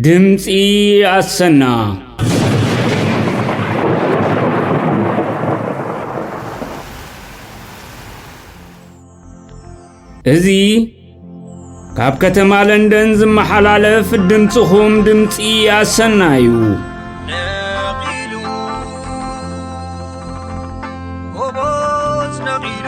ድምፂ ኣሰና እዚ ካብ ከተማ ለንደን ዝመሓላለፍ ድምፅኹም ድምፂ ኣሰና እዩ ነቒሉ ጎቦት ነቒሉ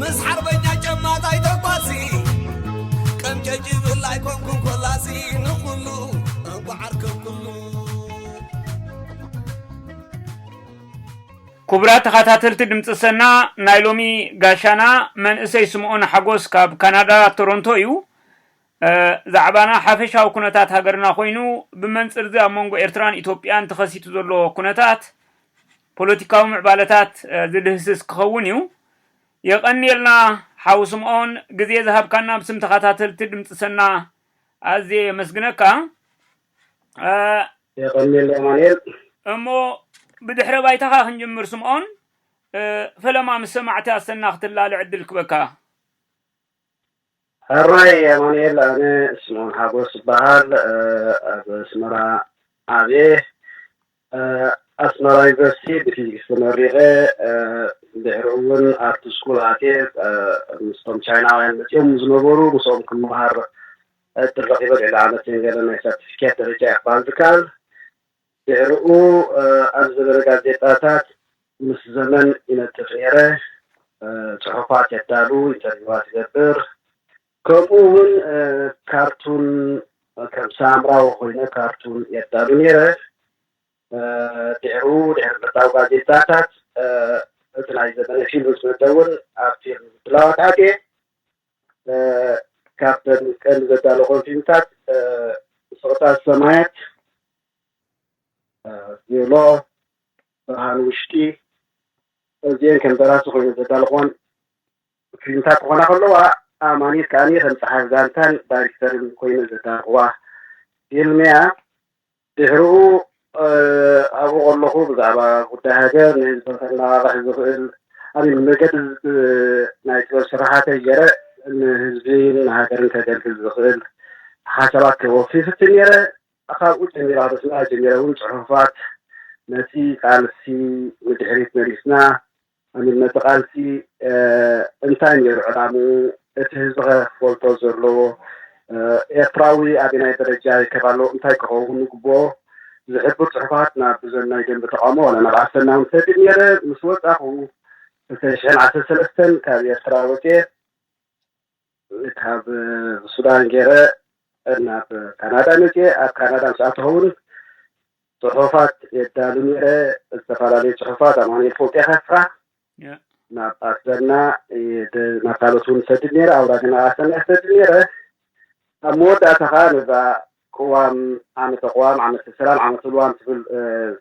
ምስ ሓርበኛ ጨማታይ ተጓሲ ቀምጨጭ ይብል ኣይኮንኩን ኮላሲ ንኹሉ እንኳዕ ኣርከብኩሉ ኩቡራት ተኻታተልቲ ድምጺ ሰና ናይ ሎሚ ጋሻና መንእሰይ ስምኦን ሓጎስ ካብ ካናዳ ቶሮንቶ እዩ። ዛዕባና ሓፈሻዊ ኩነታት ሃገርና ኮይኑ ብመንጽርዚ ኣብ መንጎ ኤርትራን ኢትዮጵያን ተኸሲቱ ዘሎ ኩነታት ፖለቲካዊ ምዕባለታት ዝድህስስ ክኸውን እዩ። የቐንየልና ሓው ስምኦን ግዜ ዝሃብካና ብስም ተኻታተልቲ ድምጺ ሰና ኣዝየ የመስግነካ። የቐንየልና ኣማንኤል። እሞ ብድሕረ ባይታኻ ክንጅምር ስምኦን፣ ፈለማ ምስ ሰማዕቲ ኣሰና ክትላለ ዕድል ክበካ። ሕራይ ኣማኑኤል ኣነ ስምኦን ሓጎስ እበሃል ኣብ ኣስመራ ዓብየ ኣስመራ ዩኒቨርሲቲ ብፊዚክስ ተመሪቐ ድሕሩ እውን ኣርት ስኩል ኣትየ ምስቶም ቻይናውያን መፅዮም ዝነበሩ ምስኦም ክመሃር ዕድል ረኺበ ልዕሊ ዓመትን ገለን ናይ ሰርቲፊኬት ደረጃ እየ ክበሃል ዝከኣል ድሕርኡ ኣብ ዝበለ ጋዜጣታት ምስ ዘመን ይነጥፍ ነይረ፣ ጽሑፋት የዳሉ፣ ኢንተርቪዋት ይገብር፣ ከምኡ'ውን ካርቱን ከም ሳምራዊ ኮይነ ካርቱን የዳሉ ነይረ። ድሕርኡ ድሕሪ ምርዳው ጋዜጣታት እቲ ናይ ዘመነ ፊልም ምስ መጸ እውን ኣብ ፊልም ምድላዋት ኣትየ። ካፕተን ቀን ዘዳለኾም ፊልምታት ስቕታ ሰማያት፣ ቬሎ፣ ብርሃን ውሽጢ እዚኤን ከም ደራሲ ኮይነን ዘዳለኽወን ፊልምታት ክኾና ከለዋ ኣማኒት ከኣ ከም ጸሓፍ ዛንታን ዳይሬክተርን ኮይነን ዘዳለኽዋ ፊልም እያ። ድሕርኡ ኣብኡ ከለኹ ብዛዕባ ጉዳይ ሃገር ንህዝቢ ከነቓቕሕ ዝኽእል ኣሚን መገዲ ናይ ጥበብ ስርሓተይ ገይረ ንህዝቢን ንሃገርን ከገልግል ዝኽእል ሓሳባት ከወፊ ይፍትን ነይረ። ካብኡ ጀሚረ ካብ ኣስመራ ጀሚረ እውን ጽሑፋት ነቲ ቃልሲ ንድሕሪት መሊስና ኣንድነት እቲ ቃልሲ እንታይ ነይሩ ዕላምኡ እቲ ህዝቢ ከ ክፈልጦ ዘለዎ ኤርትራዊ ኣበናይ ደረጃ ይርከብ ኣሎ እንታይ ክኸውን ይግብኦ ዝሕብር ጽሑፋት ናብ ብዘን ናይ ደንበ ተቃውሞ ዋላ ናብ ኣሰና ውን ሰዲድ ነይረ ምስ ወጻኹ ክልተ ሽሕን ዓሰርተ ሰለስተን ካብ ኤርትራ ወጺኤ ካብ ሱዳን ጌረ ናብ ካናዳ መጺኤ ኣብ ካናዳ ምስ ኣተኹ ውን ጽሑፋት የዳሉ ኔረ ዝተፈላለዩ ጽሑፋት ኣማኑኤል ፎንቄ ከፍራ ናብ ኣሰና ናብ ካልኦት ውን እሰድድ ኔረ ኣውራጃና ኣሰና እሰድድ ኔረ ኣብ መወዳእታ ከኣ ነዛ ቅዋም፣ ዓመተ ቅዋም፣ ዓመተ ሰላም፣ ዓመተ ልዋም ትብል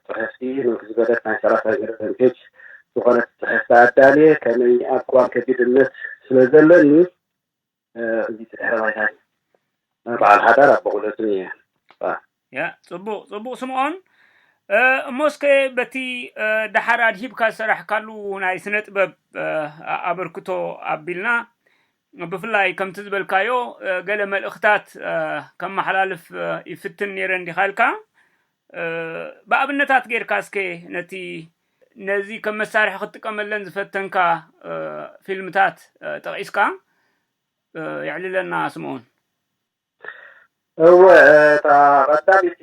ጽሕፍቲ ምንኪ ዝበለት ናይ ሰላሳ ገደደን ፔጅ ዝኾነት ጽሕፍቲ ኣዳልየ፣ ከመይ ኣብ ቅዋም ከቢድ እምነት ስለ ዘለኒ እዚ ድሕረ ባይታይ በዓል ሓዳር ኣቦቑለትን እየ። ያ ጽቡቕ ጽቡቕ ስምኦን እሞ እስከ በቲ ደሓር ኣድሂብካ ዝሰራሕካሉ ናይ ስነጥበብ ኣበርክቶ ኣቢልና ብፍላይ ከምቲ ዝበልካዮ ገለ መልእኽታት ከመሓላልፍ ይፍትን ነይረ እንዲኻ ኢልካ ብኣብነታት ጌርካ እስከ ነቲ ነዚ ከም መሳርሒ ክትጥቀመለን ዝፈተንካ ፊልምታት ጠቒስካ የዕልለና ስምኦን። እወ እታ ቀዳሚቲ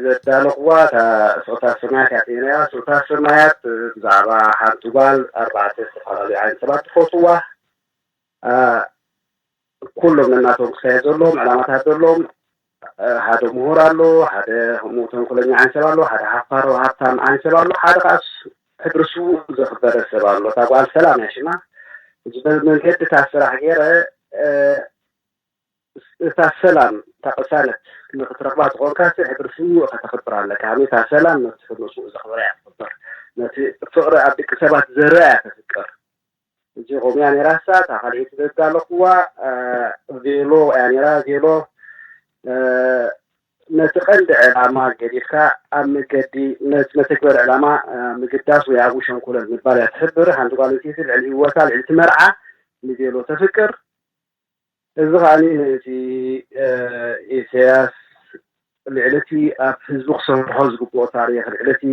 ዘዳለኹዋ እታ ስቕታ ሰማያት እያ ነይራ። ስቕታ ሰማያት ብዛዕባ ሓንቲ ጓል ኣርባዕተ ዝተፈላለዩ ዓይነት ሰባት ትፈትዋ ኩሎም ነናቶም ክሳየድ ዘለዎም ዕላማታት ዘለዎም ሓደ ምሁር ኣሎ፣ ሓደ ከምኡ ተንኮለኛ ዓይን ሰብ ኣሎ፣ ሓደ ሓፋሮ ሃብታም ዓይን ሰብ ኣሎ፣ ሓደ ከዓ ሕድሪ ስውእ ዘኽበረ ሰብ ኣሎ። እታ ጓል ሰላም እያ ሽማ። እዚ መንገዲ እታ ስራሕ ገይረ እታ ሰላም እታ ቅሳነት ንኽትረኽባ ዝኾንካ ስዕ ሕድሪ ስዉእ እኻ ተኽብር ኣለካ ሃሜ እታ ሰላም ነቲ ሕድሪ ስዉእ ዘኽብረ እያ ትኽብር ነቲ ፍቕሪ ኣብ ድቂ ሰባት ዘርኣ እያ ተፍቅር እዚ ኾም እያ ነራ እሳ እታ ካልኤቲ ዘዳለኹዋ ቬሎ እያ ነራ ቬሎ ነቲ ቀንዲ ዕላማ ገዲፍካ ኣብ መገዲ ነቲ መተግበሪ ዕላማ ምግዳስ ወይ ኣብኡ ሸንኩለል ምባል እያ ትሕብር ሓንቲ ጓል ኣንስተይቲ ልዕሊ ህይወታ ልዕሊ እቲ መርዓ ንቤሎ ተፍቅር እዚ ከኣ ነቲ ኢሰያስ ልዕሊ እቲ ኣብ ህዝቢ ክሰርሖ ዝግብኦ ታሪኽ ልዕሊ እቲ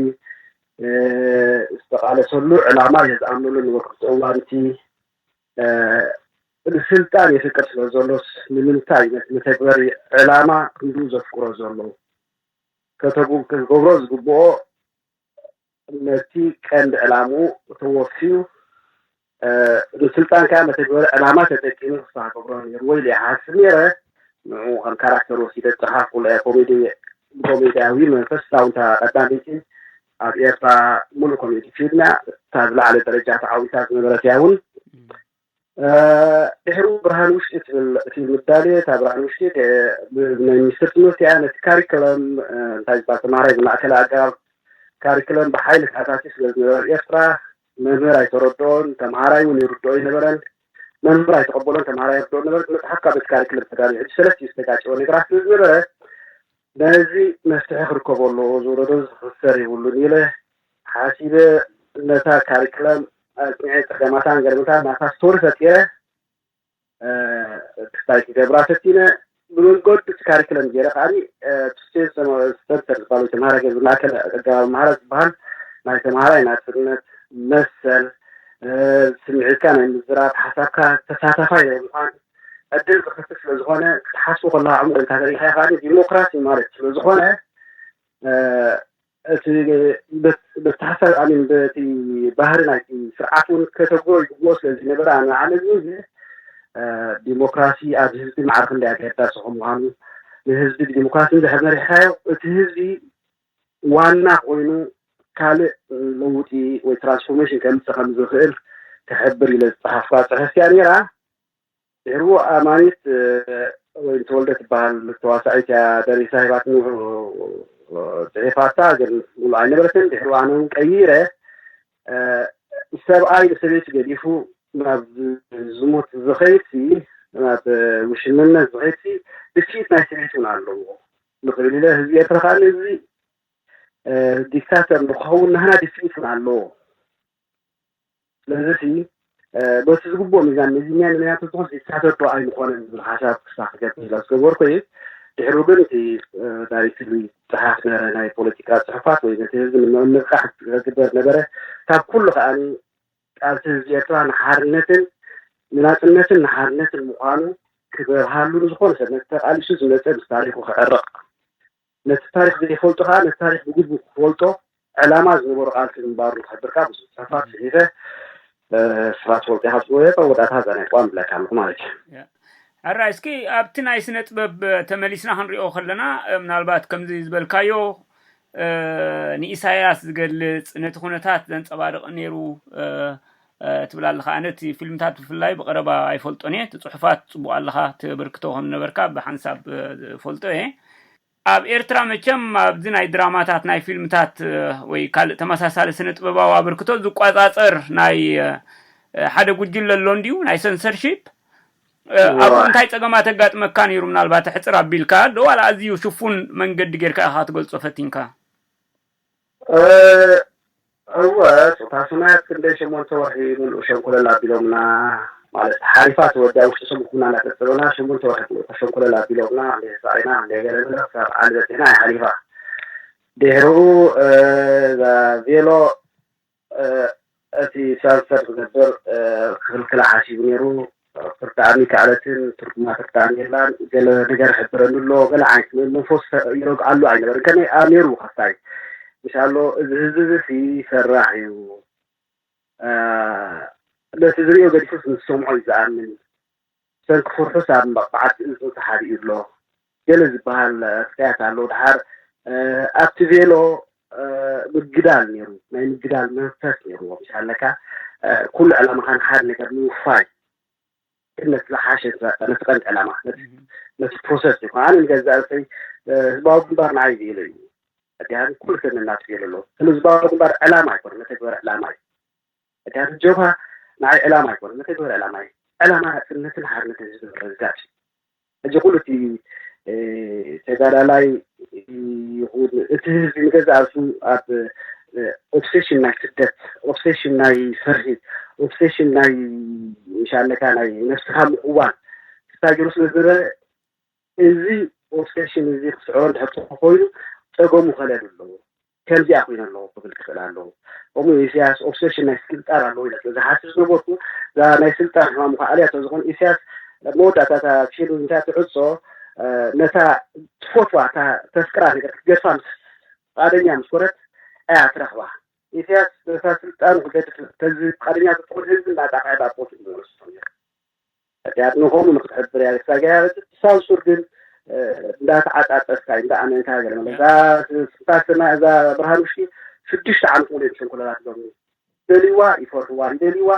ዝተቓለሰሉ ዕላማ እየ ዝኣምነሉ ንወቅቲ እዋን እቲ ንስልጣን የፍቅር ስለ ዘሎስ ንምንታይ ነቲ መተግበሪ ዕላማ ክንድኡ ዘፍቅሮ ዘሎ ከተጉ ክገብሮ ዝግብኦ ነቲ ቀንዲ ዕላምኡ ተወፍዩ ንስልጣን ከኣ መተግበሪ ዕላማ ተጠቂሙ ክሳዕ ክገብሮ ነይርዎ ኢለ ይሓስብ ነይረ። ንዕኡ ከም ካራክተር ወሲደ ዝጸሓፍኩላ እያ። ኮሜዲ ብኮሜድያዊ መንፈስ ዛውንታ ቀዳመይቲ ኣብ ኤርትራ ምሉእ ኮሜዲ ፊልም እያ። እታ ዝለዓለ ደረጃ ተዓዊታ ዝነበረት እያ እውን። ድሕሪኡ ብርሃን ውሽጢ ትብል እቲ ምዳልየ እታ ብርሃን ውሽጢ ናይ ሚኒስትር ትምህርቲ እያ ነቲ ካሪክለም እንታይ ዝበሃል ተማሃራይ ዝማእከለ ኣገባብ ካሪክለም ብሓይሊ ተኣታትዩ ስለ ዝነበረ ኤርትራ መምህር ኣይተረድኦን ተምሃራይ እውን ይርድኦ ኣይነበረን መምህር ኣይተቐበሎን ተምሃራይ ይርድኦ ነበረ መፅሓፍ ካብ በቲ ካሪክለም ተዳልዩ ሕጂ ሰለስቲኡ ዝተጋጨወ ነገራት ስለ ዝነበረ ነዚ መፍትሒ ክርከቦ ኣለዎ ዝውረዶ ዝኽሰር የብሉን ኢለ ሓሲበ ነታ ካሪክለም ኣጽኒዐ ጸገማታን ገርምታን ናታ ስቶሪ ፈጢረ ክስታይ ክገብራ ፈቲነ ብመንገዱ እቲ ካሪክለም ገይረ ከኣኒ ቱሴን ሰንተር ዝበሃሉ ተምሃራይ ገይረ ዝማእከል ኣገባብ ምሃራ ዝበሃል ናይ ተምሃራይ ናጽነት መሰል ስምዒትካ ናይ ምዝራብ ሓሳብካ ተሳታፋይ ናይ ምዃን ዕድል ዝኸፍት ስለ ዝኾነ ክትሓስቡ ከለኻ ዕሙቕ ኢልካ ተሪኢኻ ከኣ ዲሞክራሲ ማለት ስለ ዝኾነ እቲ በቲ ሓሳብ ኣሚን በቲ ባህሪ ናይቲ ስርዓት እውን ከተግብሮ ይግብኦ ስለ ዘይነበረ ኣነ ንዓለምኒ እዚ ዲሞክራሲ ኣብ ህዝቢ ማዕረ ክንደይ ኣገዳሲ ከም ምዃኑ ንህዝቢ ብዲሞክራሲ እንድሕር መሪሕካዮ እቲ ህዝቢ ዋና ኮይኑ ካልእ ለውጢ ወይ ትራንስፎርሜሽን ከምፅእ ከም ዝኽእል ክሕብር ኢለ ዝፀሓፍኳ ፅሕፍቲ እያ ነይራ። ድሕሩ ኣማኒት ወይን ተወልደ ትበሃል ተዋሳኢት እያ ደሪሳ ሂባትኒ ጽሒፋታ ግን ሙሉእ ኣይነበረትን ድሕሩ ኣነ እውን ቀይረ ሰብኣይ ንሰበይቲ ገዲፉ ናብ ዝሙት ዝኸይድሲ ናብ ውሽምነት ዝኸይድሲ ድፍኢት ናይ ሰበይቲ እውን ኣለዎ ንኽብል ኢለ ህዝቢ ኤርትራ ከኣ እዚ ዲክታተር ንክኸውን ናህና ድፍኢት እውን ኣለዎ ስለዚ ሲ በቲ ዝግብኦ ሚዛን መዚንና ንመያቱ ዝኾን ዝሳተት ዶ ኣይምኾነን ዝብል ሓሳብ ክስፋሕ ክገብር ስለ ዝገበርኩ እየ ድሕሩ ግን እቲ ናይ ፍሉይ ጸሓፍ ነረ ናይ ፖለቲካ ጽሑፋት ወይ ነቲ ህዝቢ ንምንቕቃሕ ዝግበር ነበረ ካብ ኩሉ ከኣ ቃልሲ ህዝቢ ኤርትራ ንሓርነትን ንናጽነትን ንሓርነትን ምዃኑ ክበርሃሉ ንዝኾነ ሰብ ነቲ ተቓሊሱ ዝመጸ ምስ ታሪኹ ክዕረቕ ነቲ ታሪኽ ዘይፈልጦ ከኣ ነቲ ታሪኽ ብግቡእ ክፈልጦ ዕላማ ዝነበሮ ቃልሲ ምንባሩ ንኽሕብር ከኣ ብዙሕ ጽሑፋት ጽሒፈ ስብሓት ወልቂኻ ጽወየቀ ወዳእታ እዛ ናይ ቋም ብላይካ ኣለኹ ማለት እዩ። ሕራይ እስኪ ኣብቲ ናይ ስነጥበብ ተመሊስና ክንሪኦ ከለና ምናልባት ከምዚ ዝበልካዮ ንኢሳያስ ዝገልጽ ነቲ ኩነታት ዘንጸባርቕ ኔሩ ትብል ኣለኻ ኣነ እቲ ፊልምታት ብፍላይ ብቐረባ ኣይፈልጦን እየ እቲ ጽሑፋት ጽቡቕ ኣለኻ ተበርክቶ ከም ነበርካ ብሓንሳብ ፈልጦ እየ ኣብ ኤርትራ መቸም ኣብዚ ናይ ድራማታት ናይ ፊልምታት ወይ ካልእ ተመሳሳሊ ስነ ጥበባዊ ኣበርክቶ ዝቆጻጸር ናይ ሓደ ጉጅለ ኣሎ እንድዩ ናይ ሰንሰርሺፕ ኣብኡ እንታይ ጸገማት ኣጋጥመካ ነይሩ ምናልባት ሕፅር ኣቢልካ ዶ ዋላ ኣዝዩ ሽፉን መንገዲ ጌርካ ኢኻ ክትገልጾ ፈቲንካ እወ ጾታ ሰማያት ክንደይ ሸሞንተ ወርሒ ምሉእ ሸንኮለል ኣቢሎምና ማለት ሓሪፋ ተወዲኣ ውሽጢ ሰሙን ኩና እናጸብጸበና ሸሞንተ ወርሒ ምሉእ እታ ሸንኮለል ኣቢሎምና ክንደይ ተሳቒና ክንደይ ገለ ገለ ክሳብ ዓሊ በጺሕና እያ ሓሊፋ ድሕርኡ እዛ ቬሎ እቲ ሳንሰር ዝገብር ክኽልክላ ሓሲቡ ነይሩ። ትርዳኣኒ ክኣለትን ትርጉማ ትርዳኣኒ የላን ገለ ነገር ሕብረኒ ኣሎ ገለ ዓይነት መንፈስ ይረግኣሉ ኣይነበርን ከመይ ኣ ነይሩ ካፍታይ ምስ ኣሎ እዚ ህዝቢ እዚ ሲ ፈራሕ እዩ ነቲ ዝሪኦ ገዲፉስ ምስ ሰምዖ እዩ ዝኣምን ሰልፊ ኩርሑስ ኣብ መቕጻዕቲ እዝኑ ተሓቢኡ ኣሎ ገለ ዝበሃል ፍርያት ኣሎ። ደሓር ኣብቲ ቬሎ ምግዳል ነይሩ፣ ናይ ምግዳል መንፈስ ነይሩዎ ምስ ኣለካ ኩሉ ዕላማኻ ንሓደ ነገር ምውፋይ ግን ነቲ ዝሓሸ ነቲ ቀንዲ ዕላማ ነቲ ፕሮሰስ እዩ ኣነ ንገዛእ ርእሰይ ህዝባዊ ግንባር ንዓይ ቬሎ እዩ ኣዲሃን ኩሉ ሰብ ነናቱ ቬሎ ኣሎ ህዝባዊ ግንባር ዕላማ ኣይኮነ መተግበሪ ዕላማ እዩ ምክንያቱ ጀብሃ ንዓይ ዕላማ ኣይኮነን መተግበሪ ዕላማ እዩ ዕላማ ናጽነትን ሓርነትን ህዝቢ ምርግጋጽ እዩ ሕጂ ኩሉ እቲ ተጋዳላይ ይኹን እቲ ህዝቢ ንገዛእ ርእሱ ኣብ ኦብሴሽን ናይ ስደት ኦብሴሽን ናይ ፍርሂ ኦብሴሽን ናይ ምሻለካ ናይ ነብስኻ ምእዋን ክሳብ ገይሩ ስለ ዝነበረ እዚ ኦብሴሽን እዚ ክስዕሮ እንድሕር ኮይኑ ጸገሙ ከለሉ ኣለዎ ከምዚኣ ኩይነ ኣለኹ ክብል ክኽእል ኣለዎ ከምኡ ኢሰያስ ኦብሰሽን ናይ ስልጣን ኣለዎ ኢለ ስለ ዝሓስብ ዝነበርኩ እዛ ናይ ስልጣን ሕማም እኳ ኣልያቶ ዝኾን ኢሰያስ መወዳእታ እታ ፊልም እንታይ ትዕጾ ነታ ትፈትዋ እታ ተፍቅራ ነገር ክትገድፋ ምስ ፍቃደኛ ምስ ኮነት ኣያ ትረኽባ ኢሰያስ ነታ ስልጣኑ ክገድፍ ተዚ ፍቃደኛ ተትኾን ህዝቢ እናጣፍዐ ናብ ቦትኡ ምመለሱ ሕድያት ምዃኑ ንክትሕብር እያ ዝሳገያ ብሳብ ሱር ግን እንዳተዓጻጸፍካ እንዳኣመንካ ገለ መለ እዛ ስንታ ስማ እዛ ብርሃን ውሽጢ ሽዱሽተ ዓመት ሙሉ እዮም ሸንኮለላት ሎሚ ይደልይዋ ይፈርህዋ ይደልይዋ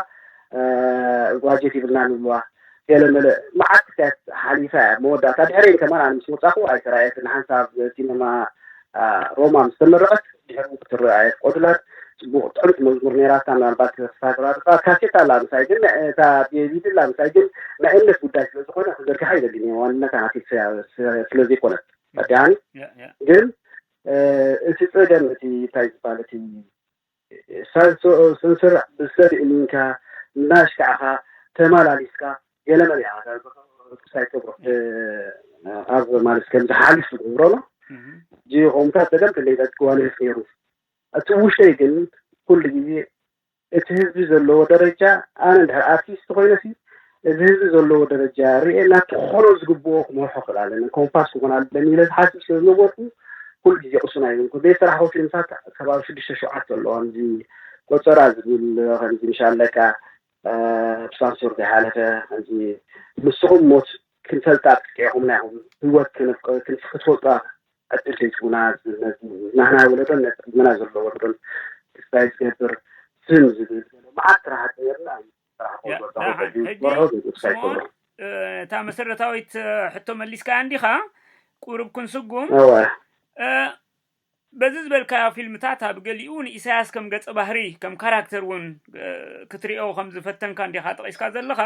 ጓጀት ይብልና ንብልዋ ገለ መለ መዓት ክታያት ሓሊፋ እያ መወዳእታ ድሕረይን ከማን ኣነ ምስ ወጻኹ ኣይተራእየትን ሓንሳብ ሲነማ ኣብ ሮማ ምስ ተመረቐት ድሕሪ ውን ክትርእ ኣየፍቐዱላን። ጽቡቕ ጥዕምቲ መዝሙር ነይራታ ምናልባት ክሳራርጻ ካሴት ኣላ ምሳይ ግን እታ ዲቪዲ ኣላ ምሳይ ግን ናይ እምነት ጉዳይ ስለ ዝኾነ ክዘርግሓ ኣይደልን እየ ዋንነታ ናተይ ስለ ዘይኮነት ረዲኣኒ ግን እቲ ጸገም እቲ እንታይ ዝባል እቲ ሳንሶኦ ሰንስርዕ ብሰብ እሚንካ እንዳሽካዕካ ተማላሊስካ ገለ መለ ኢካ ርክስ ኣይትገብሮ ኣብ ማለት ከም ዝሓልፍ ትገብሮ ኣሎ ጂ ኮምታት ጸገም ክንደይ ጸጥ ክዋልፍ ነይሩ እቲ ውሽጠይ ግን ኩሉ ግዜ እቲ ህዝቢ ዘለዎ ደረጃ ኣነ እንድሕር ኣርቲስት ኮይነሲ ነዚ ህዝቢ ዘለዎ ደረጃ ርእየና ክኾኖ ዝግብኦ ክመርሖ ክእል ኣለኒ ኮምፓስ ክኾን ኣለኒ ኢለ ዝሓስብ ስለ ዝነበርኩ ኩሉ ግዜ ቅሱና ይብንኩ ቤት ስራሕኹ ፊልምታት ከባቢ ሽዱሽተ ሸውዓተ ኣለዋ እዚ ቆፀራ ዝብል ከምዚ ምሻለካ ብሳንሱር ዘይሓለፈ ከምዚ ንስኹም ሞት ክንፈልጣ ጥቂዕኹምና ኢኹም ህይወት ክትፈልጧ ዕድል ዘይትቡና ናህና ወለዶን ነቲ ቅድመና ዘሎ ወለዶን ክስታይ ዝገብር ስም ዝብል መዓት ስራሕቲ ነርና እዩ ደሓን ሕጂ ስምኦን እታ መሰረታዊት ሕቶ መሊስካ እንዲኻ ቁሩብ ክንስጉም በዚ ዝበልካዮ ፊልምታት ኣብ ገሊኡ ንኢሳያስ ከም ገጸ ባህሪ ከም ካራክተር እውን ክትሪኦ ከም ዝፈተንካ እንዲኻ ጠቂስካ ዘለኻ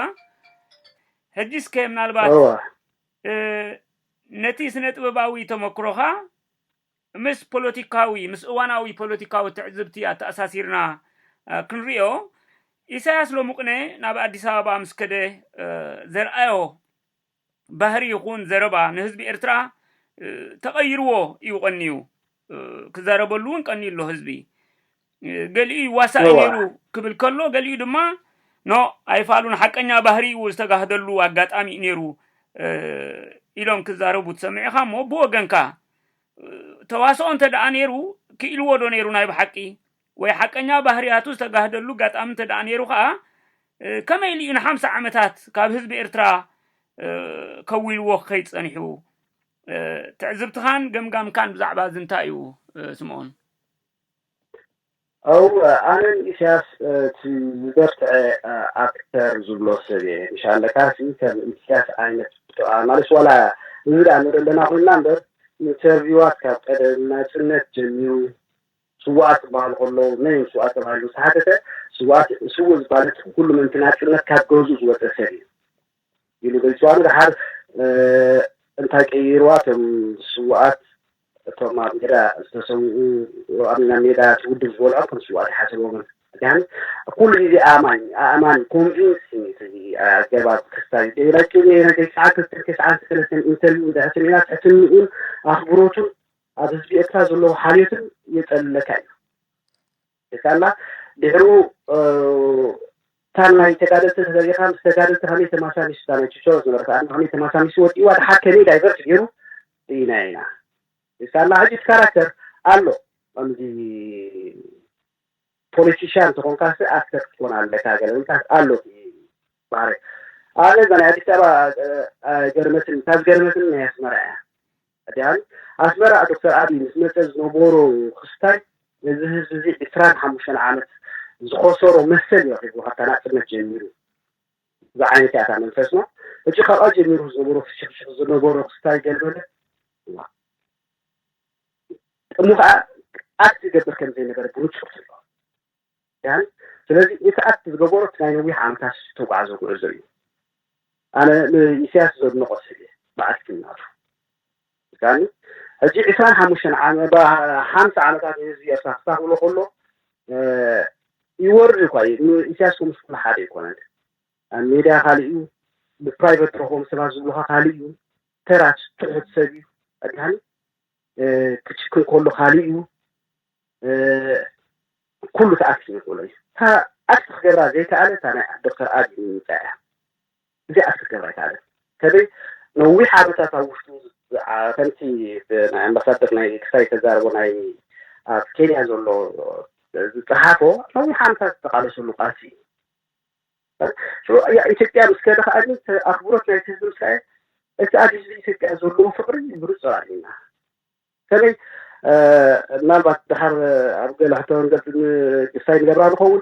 ሕጂ እስከ ምናልባት ነቲ ስነ ጥበባዊ ተመክሮኻ ምስ ፖለቲካዊ፣ ምስ እዋናዊ ፖለቲካዊ ትዕዝብቲ ኣተኣሳሲርና ክንሪኦ፣ ኢሳያስ ሎሙቅነ ናብ ኣዲስ ኣበባ ምስ ከደ ዘርኣዮ ባህሪ ይኹን ዘረባ ንህዝቢ ኤርትራ ተቐይርዎ ኢዩ ቀንዩ። ክዛረበሉ'ውን ቀንዩ ኣሎ ህዝቢ። ገሊኡ ይዋሳእ እወ ነይሩ ክብል ከሎ ገሊኡ ድማ ኖ ኣይፋሉን ሓቀኛ ባህሪኡ ዝተጋህደሉ ኣጋጣሚ እዩ ነይሩ እ፣ ኢሎም ክዛረቡ ትሰምዕ ኢኻ እሞ ብወገንካ እ፣ ተዋስኦ እንተ ደኣ ነይሩ ክኢልዎ ዶ ነይሩ ናይ ብሓቂ ወይ ሓቀኛ ባህርያቱ ዝተጋህደሉ ኣጋጣሚ እንተ ደኣ ነይሩ ከኣ እ፣ ከመይ ኢሉ እዩ ንሓምሳ ዓመታት ካብ ህዝቢ ኤርትራ እ፣ ከዊልዎ ክኸይድ ጸኒሑ እ፣ ትዕዝብትኻን ገምጋምካን ብዛዕባ እዚ እንታይ እዩ እ፣ ስምኦን? ኣው ኣነ ን ኢሰያስ እቲ ዝበርትዐ ኣክተር ዝብሎ ሰብ እየ ምሽ ኣለካሲ ከም ኢሰያስ ኣይነት ማለት ዋላ እዚ ደኣ ንርኢ ኣለና ኮይንና እምበር ኢንተርቪዋት ካብ ቀደም ናጽነት ጀሚሩ ስዋኣት ክበሃሉ ከለዉ መን እዮም ስዋኣት ተባሂሉ ምስ ተሓተተ ስዋኣት ስውእ ዝበሃል ህጂ ኩሉ ምእንቲ ናጽነት ካብ ገዝኡ ዝወጸ ሰብ እዩ ኢሉ ገልጽዋ። ንደሓር እንታይ ቀይርዋ እቶም ስዉኣት እቶም ኣብ ሜዳ ዝተሰውኡ ኣብ ናብ ሜዳ እቲ ውድብ ዝበልዖም ከም ስዉኣት ኣይሓሰቦምን። ዲሓን ኩሉ ግዜ ኣእማኝ ኣእማን ኮንቪንሲንግ እቲ ኣገባብ ክስታዩ ደይና ጭኔና ጌስዓን ክልተን ጌስዓን ክልተን እንተል እንድሕትን ኢና ትሕትንኡን ኣኽብሮቱን ኣብ ህዝቢ ኤርትራ ዘለዎ ሓልዮትን የጸልለካ እዩ። ዲቃላ ድሕሩ ታናይ ተጋደልቲ ተፈሊኻ ምስ ተጋደልቲ ከመይ ተማሳሚሱ እታ ናይ ችቸሮ ዝነበረት ኣድማ ከመይ ተማሳሚሱ ወዲእዋ ድሓር ከመይ ዳይቨርት ገይሩ ርኢናዮ ኢና ዲቃላ ሕጂ እቲ ካራክተር ኣሎ ከምዚ ፖለቲሽያን ተኾንካሲ ኣክተር ክትኮን ኣለካ ገለ ውንታት ኣሎ እቲ ባህሪ ኣነ እዛ ናይ ኣዲስ ኣበባ ኣይገርመትን እታ ዝገርመትን ናይ ኣስመራ እያ ቀዳማይ፣ ኣስመራ ዶክተር ኣቢይ ምስ መጸ ዝነበሮ ክስታይ ነዚ ህዝቢ'ዚ ዕስራን ሓሙሽተን ዓመት ዝኸሰሮ መሰል እዩ ኣኺብዎ ካብታ ናጽነት ጀሚሩ ዝዓይነት እያ እታ መንፈስና። ሕጂ ካብኣ ጀሚሩ ዝነበሮ ፍሽኽሽኽ ዝነበሮ ክስታይ ገልበለ እሞ ከኣ ኣክት ይገብር ከምዘይነበረ ብንጹር ትርእዮ። ያ ስለዚ እቲ ኣት ዝገበሮ እቲ ናይ ነዊሕ ዓመታት ዝተጓዕዞ ጉዕዞ እዩ ኣነ ንኢሳያስ ዘድንቆ ሰብ እየ ብኣስኪ ናቱ ምስካኒ ሕጂ ዕስራን ሓሙሽተን ሓምሳ ዓመታት ንህዝቢ ኤርትራ ክሳኽብሎ ከሎ ይወርድ እኳ እዩ ንኢሳያስ ከምስ ኩሉ ሓደ ኣይኮነን ኣብ ሜድያ ካልእ እዩ ብፕራይቨት ትረኽቦም ሰባት ዝብሉኻ ካልእ እዩ ተራት ትሑት ሰብ እዩ ኣድሃኒ ክጭክን ከሎ ካልእ እዩ ኩሉ ተኣኪቡ ይኽእሎ እዩ። እታ ኣቲ ክገብራ ዘይከኣለ እታ ናይ ዶክተር ኣቢ ምምጻእ እያ። እዚኣ ኣቲ ክትገብራ ኣይከኣለን። ከመይ ነዊሕ ዓመታት ኣብ ውሽጡ ከምቲ ናይ ኣምባሳደር ናይ ክሳይ ተዛረቦ ናይ ኣብ ኬንያ ዘሎ ዝጸሓፎ ነዊሕ ዓመታት ዝተቃለሰሉ ቃልሲ እዩ። ኢትዮጵያ ምስ ከደ ከኣ ኣኽብሮት ናይቲ ህዝቢ ምስ ረኣየ እቲ ኣብ ህዝቢ ኢትዮጵያ ዘለዎ ፍቕሪ ብንጹር ኣርእዩና። በተለይ ምናልባት ድሓር ኣብ ገለ ሕቶ ንገድ ድስታይ ንገብራ ንኸውን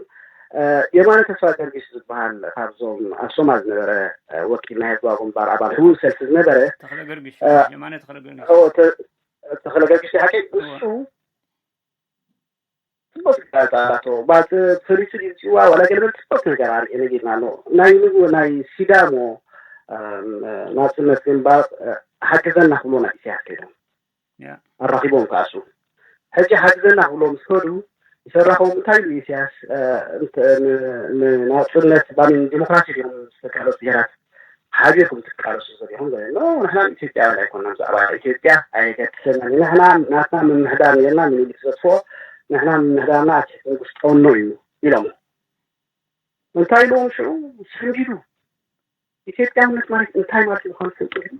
የማነ ተስፋ ገርጊስ ዝበሃል ካብዞም ኣብ ሶማል ዝነበረ ወኪል ናይ ህዝባዊ ግንባር ኣባል ሕውን ሰልፊ ዝነበረ ተክለ ገርግሽ የማነ ተክለ ገርግሽ ተክለ ገርግሽ ሓቂ ንሱ ጽቡቅ ትካል ጻላቶ ባጽ ፈሊሱ ድዩ ጽዋ ዋላ ገለ በል ጽቡቅ ነገር ኣርኤ ነጊርና ኣሎ ናይ ንጉ ናይ ሲዳሞ ናጽነት ግንባር ሓግዘና ክብሎ ናይ ኢሳያስ ከይዶም ኣራኺቦም ከኣሱ ሕጂ ሓግዘና ክብሎ ምስ ከዱ ይሰራኸዎም እንታይ ኢሉ ኢሳያስ ንናጽነት ባን ዲሞክራሲ ድዮም ዝተቃለሱ ብሄራት ሓቢርኩም ትቃለሱ ዘለኹም ዘለና ንሕና ኢትዮጵያውያን ኣይኮናን ብዛዕባ ኢትዮጵያ ኣየገድሰና ንሕና ናትና ምምሕዳር ነርና ምኒልክ ዘጥፍኦ ንሕና ምምሕዳርና ኣብ ትሕቲ ንጉስ ጠኖ እዩ ኢሎሞ እንታይ ኢልዎም ሽዑ ሰንቢዱ ኢትዮጵያውነት ማለት እንታይ ማለት ምዃኑ ትፈልጡ ግን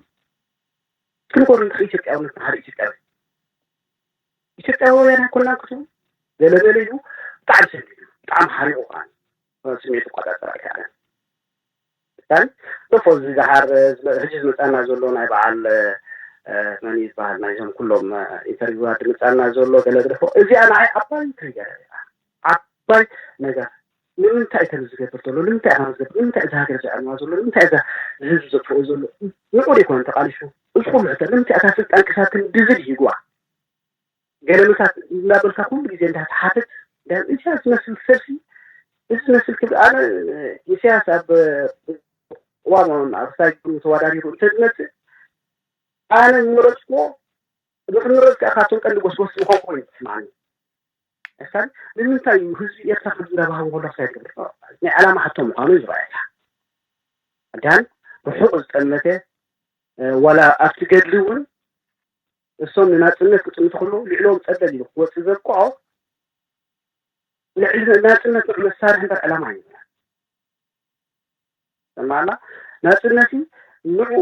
ክንኮሩ እንታይ ኢትዮጵያውነት ንሓደ ኢትዮጵያዊ ኢትዮጵያውያን ኣይኮናን ክትቡ ገለገለ ኢሉ ብጣዕሚ ሰንቢዱ ብጣዕሚ ሓሪቑ ከዓ ስሜት ይቆጣጠር ኣይከኣለን ን ዶፎ እዚ ደሓር ህጂ ዝመጻና ዘሎ ናይ በዓል መን እዩ ዝበሃል ናይዞም ኩሎም ኢንተርቪዋት ድመጻና ዘሎ ገለ ግደፎ እዚኣ ንዓይ ዓባይ ትሪገር እያ ዓባይ ነገር ንምንታይ እዩ ከምዚ ዝገብር ዘሎ ንምንታይ እዩ ከምዚ ዝገብር ንምንታይ እዛ ሃገር ዘዕንዋ ዘሎ ንምንታይ እዛ ንህዝቢ ዘጥፍኦ ዘሎ ንዑድ ይኮን ተቃሊሹ እዚ ኩሉ ሕቶ ንምንታይ እታ ስልጣን ክሳብ ክንዲ ዝብሂግዋ ገለመታት እናበልካ ኩሉ ግዜ እንዳ ትሓትት ዳን ኢሳያስ ዝመስል ሰብሲ እዚ ዝመስል ክብ ኣነ ኢሳያስ ኣብ ቅዋም ኣብ ሳይ ተወዳዲሩ እንተ ዝመጽእ ኣነ ምረጽኩዎ ንክምረጽ ከኣ ካብቶም ቀንዲ ጎስጎስቲ ምኾን ኮይኑ ትስምዓኒ ክሳብ ንምንታይ እዩ ህዝቢ ኤርትራ ከምዚ እንዳባህቦ ከሎ ክሳይ ትገብር ናይ ዓላማ ሕቶ ምዃኑ እዩ ዝረኣየካ ዳን ርሑቕ ዝጠመተ ዋላ ኣብቲ ገድሊ እውን ንሶም ንናጽነት ክጥምቱ ከለዉ ልዕለዎም ጸለል ኢሉ ክወጽእ ዘብቅዖ ልዕሊ ናጽነት ንዑ መሳርሒ እምበር ዕላማ እዩ ሰማላ ናጽነት ንዑ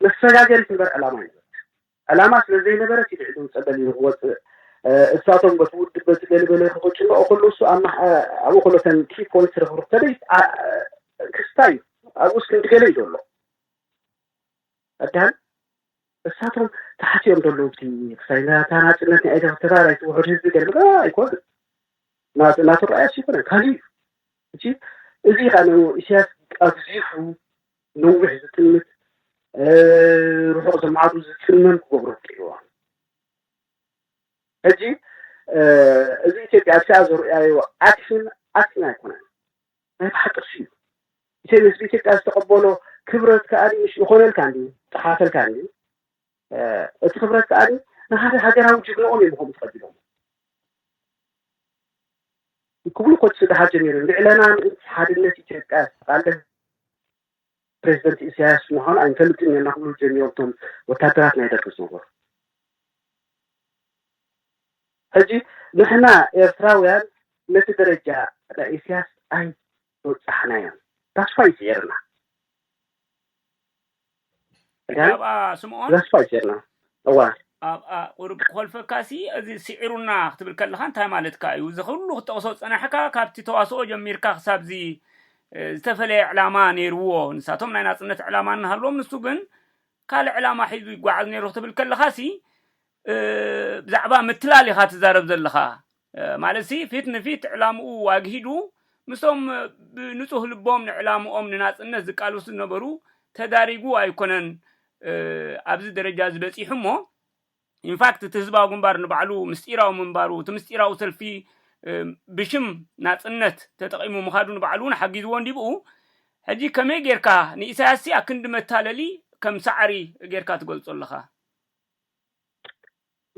መሰጋገሪት እምበር ዕላማ እዩ ዕላማ ስለ ዘይነበረት እዩ ልዕሊ ጸለል ኢሉ ክወጽእ እሳቶም በቲ ውድብ በቲ ገለበለ ክቅጭንኦ ከሎ እሱ ኣብኡ ከሎ ተን ኪ ፖይንት ርኽብሩ ከደ ክስታ እዩ ኣብኡ እስክንዲ ገለ እዩ ዘሎ ቀዳም እሳቶም ተሓሲዮም ዘለዉ እቲ ክሳይ ናታ ናጽነት ናይ ኤርትራ ናይቲ ውሑድ ህዝቢ ገልምዶ ኣይኮነን ናቱ ናቱ ራእያስ ኣይኮነን ካልእ እዩ እቲ እዚ ኸኣ ን ኢሳያስ ኣግዚፉ ነዊሕ ዝጥምት ርሑቕ ዘማዕዱ ዝጽመም ክገብሮ ክኢልዎ ሕጂ እዚ ኢትዮጵያ ኣብቲኣ ዘርእያዮ ዓክፍን ዓክፍን ኣይኮነን ናይ ብሓቂ ስዩ ኢተይ ንህዝቢ ኢትዮጵያ ዝተቀበሎ ክብረት ከኣ ምሽ ይኾነልካ እንድዩ ይጠሓሰልካ እንድዩ እቲ ክብረት ከኣ ንሃደ ሃገራዊ ጅግንኦም እዮም ከምኡ ተቀቢሎሞ ክብሉ ኮት ስጋሓት ጀሚሩ ልዕለና ምእንቲ ሓድነት ኢትዮጵያ ዝተቃለስ ፕረዚደንት ኢሳያስ ምዃኑ ኣይንፈልጥን ኔርና ክብሉ ጀሚሮም እቶም ወታደራት ናይ ደርጊ ዝነበሩ። ሕጂ ንሕና ኤርትራውያን ነቲ ደረጃ ናይ ኢሳያስ ኣይበጻሕናዮን። That's why ይስዒርና። ሕጂ ኣብኣ ስምኦን ተስፋ ጌርና እዋ ኣብኣ ቁሩብ ክኾልፈካሲ እዚ ሲዒሩና ክትብል ከለኻ እንታይ ማለትካ እዩ እዚ ኩሉ ክትጠቕሶ ዝጸናሕካ ካብቲ ተዋስኦ ጀሚርካ ክሳብዚ ዝተፈለየ ዕላማ ነይርዎ ንሳቶም ናይ ናጽነት ዕላማ እናሃልዎም ንሱ ግን ካልእ ዕላማ ሒዙ ይጓዓዝ ነይሩ ክትብል ከለኻሲ ብዛዕባ ምትላል ኢኻ ትዛረብ ዘለኻ ማለትሲ ፊት ንፊት ዕላምኡ ኣግሂዱ ምስቶም ብንጹህ ልቦም ንዕላምኦም ንናጽነት ዝቃለሱ ዝነበሩ ተዳሪጉ ኣይኮነን ኣብዚ ደረጃዚ በጺሑ እሞ ኢንፋክት እቲ ህዝባዊ ግንባር ንባዕሉ ምስጢራዊ ምንባሩ እቲ ምስጢራዊ ሰልፊ ብሽም ናጽነት ተጠቒሙ ምኻዱ ንባዕሉ እውን ሓጊዝዎ እንዲብኡ ሕጂ ከመይ ጌርካ ንኢሳያስሲ ኣክንዲ መታለሊ ከም ሳዕሪ ጌርካ ትገልጾ ኣለኻ?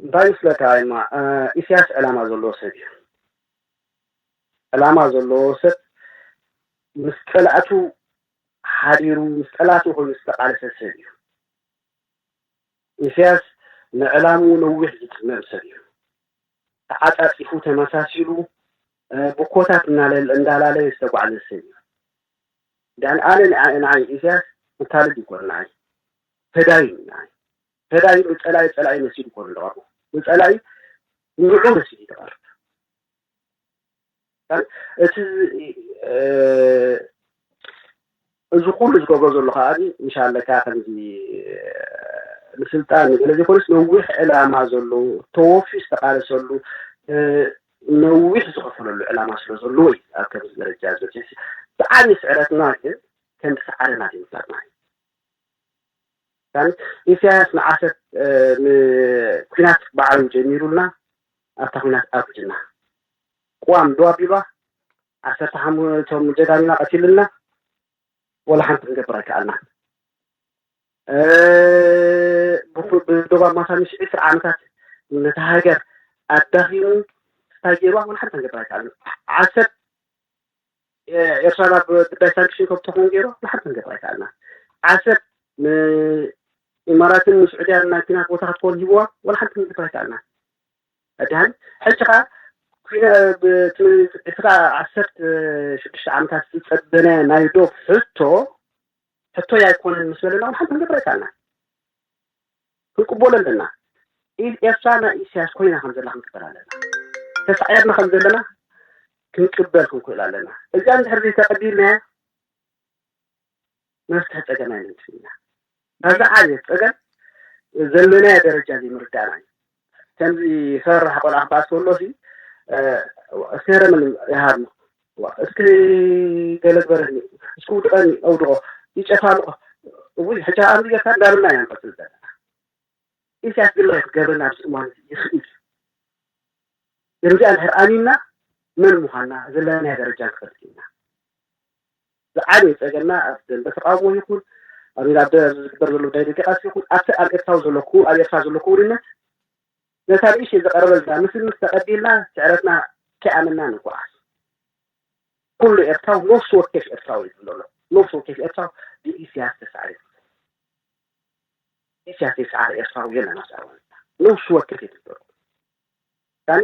እንታይ ምስለካ እማ ኢስያስ ዕላማ ዘለዎ ሰብ እዩ ዕላማ ዘለዎ ሰብ ምስ ጸላእቱ ሓዲሩ ምስ ጠላቱ ኮይኑ ዝተቃለሰ ሰብ እዩ ኢስያስ ንዕላምኡ ነዊሕ ዝጽመም ሰብ እዩ ተዓጻጺፉ ተመሳሲሉ ብኮታት እንዳላለየ ዝተጓዕዘ ሰብ እዩ ዳን ኣነ ንዓይ ኢስያስ መታለል ይኮር ንዓይ ፈዳይን እዩ ንዓይ ተዳይዑ ፀላኢ ፀላኢ መሲሉ ኮኑ ዝቐርቡ ንፀላኢ ንዑዑ መሲሉ ይተቐርብ እቲ እዚ ኩሉ ዝገብሮ ዘሎ ከዓ እንሻለካ ከምዚ ንስልጣን ንገለ ዘይኮነስ ነዊሕ ዕላማ ዘለዎ ተወፍዩ ዝተቃለሰሉ ነዊሕ ዝኸፈለሉ ዕላማ ስለ ዘለዎ እዩ ኣብ ከምዚ ደረጃ ዝበፅሕ ብዓብዪ ስዕረትና ግን ከምቲ ሰዓረና ዘይምፍላጥና እዩ ታሪክ ኢሳያስ ንዓሰብ ንኩናት ባዕሉ ጀሚሩልና ኣብታ ኩናት ኣውሪድና ቅዋም ዶ ኣቢልዋ ዓሰርተ ሓሙ እቶም ጀጋኑና ቀቲሉልና ወላ ሓንቲ ክንገብር ኣይከኣልናን ብዶብ ኣማሳ ምሽ ዕስራ ዓመታት ነታ ሃገር ኣዳኺሙ እንታይ ገይርዋ ወላ ሓንቲ ክንገብር ኣይከኣልን ዓሰብ ኤርትራ ናብ ጉዳይ ሳንክሽን ከም ትኸውን ገይሩ ንሓንቲ ክንገብር ኣይከኣልናን። ዓሰብ ንኢማራትን ንስዑድያን ናይ ኲናት ቦታ ክትከውን ሂብዋ ዋላ ሓንቲ ክንገብር ኣይከኣልናን። ኣድሃኒ ሕጂ ከኣ እቲ ከኣ ዓሰርተ ሽዱሽተ ዓመታት ዝጸበነ ናይ ዶብ ሕቶ ሕቶይ ኣይኮነን ምስ በለና ዋላ ሓንቲ ክንገብር ኣይከኣልናን። ክንቅቦሎ ኣለና ኢዝ ኤርትራ ናይ ኢሳያስ ኮይና ከም ዘላ ክንቅበል ኣለና ተሳዒርና ከም ዘለና ክንቅበል ክንክእሎ ኣለና እዚኣ እንድሕር ዘይተቀቢልናያ መፍትሒ ፀገም ኣይምንጭን ኢና ናብዛ ዓብየት ፀገም ዘለናዮ ደረጃ ዘይምርዳእና እዩ ከምዚ ፈራሕ ቆልዓ ክኣ ተሎሲ ሴረምን ይሃብኒ እስኪ ገለ ዝበረኒ እስኪ ውድቀኒ ኣውድቆ ይጨፋልቆ እውይ ሕጂ ከኣ ኣምዚ ጌርካ እንዳበልና ኢና ንቅጽል ዘለና ኢሳያስ ግን እንታይ ክገብረና ኣብዚ እዋን እዚ ይኽእል እዩ ነዚኣ እንድሕር ኣሚንና መን ምዃንና ዘለናዮ ደረጃ ንፈልጥ ኢና ዝዓበየ ጸገምና ኣብ ደንበ ተቓውሞ ይኹን ኣብ ኣብ ዝግበር ዘሎ ናይ ደገ ቃልሲ ይኹን ኣብቲ ኣብ ኤርትራዊ ዘሎ ክው ኣብ ኤርትራ ዘሎ ክውንነት ነታ ንእሽተይ ዝቐረበልና ምስሊ ምስ ተቐቢልና ስዕረትና ከይኣመንና ንጓዓዝ ኩሉ ኤርትራዊ ነፍሲ ወከፍ ኤርትራዊ እዩ ዘሎ ነፍሲ ወከፍ ኤርትራዊ ብኢስያስ ተሳዕረ ኢስያስ ተሳዕረ ኤርትራዊ የለን ኣብዛ እዋን ነፍሲ ወከፍ እዩ ዘሎ ምሳሌ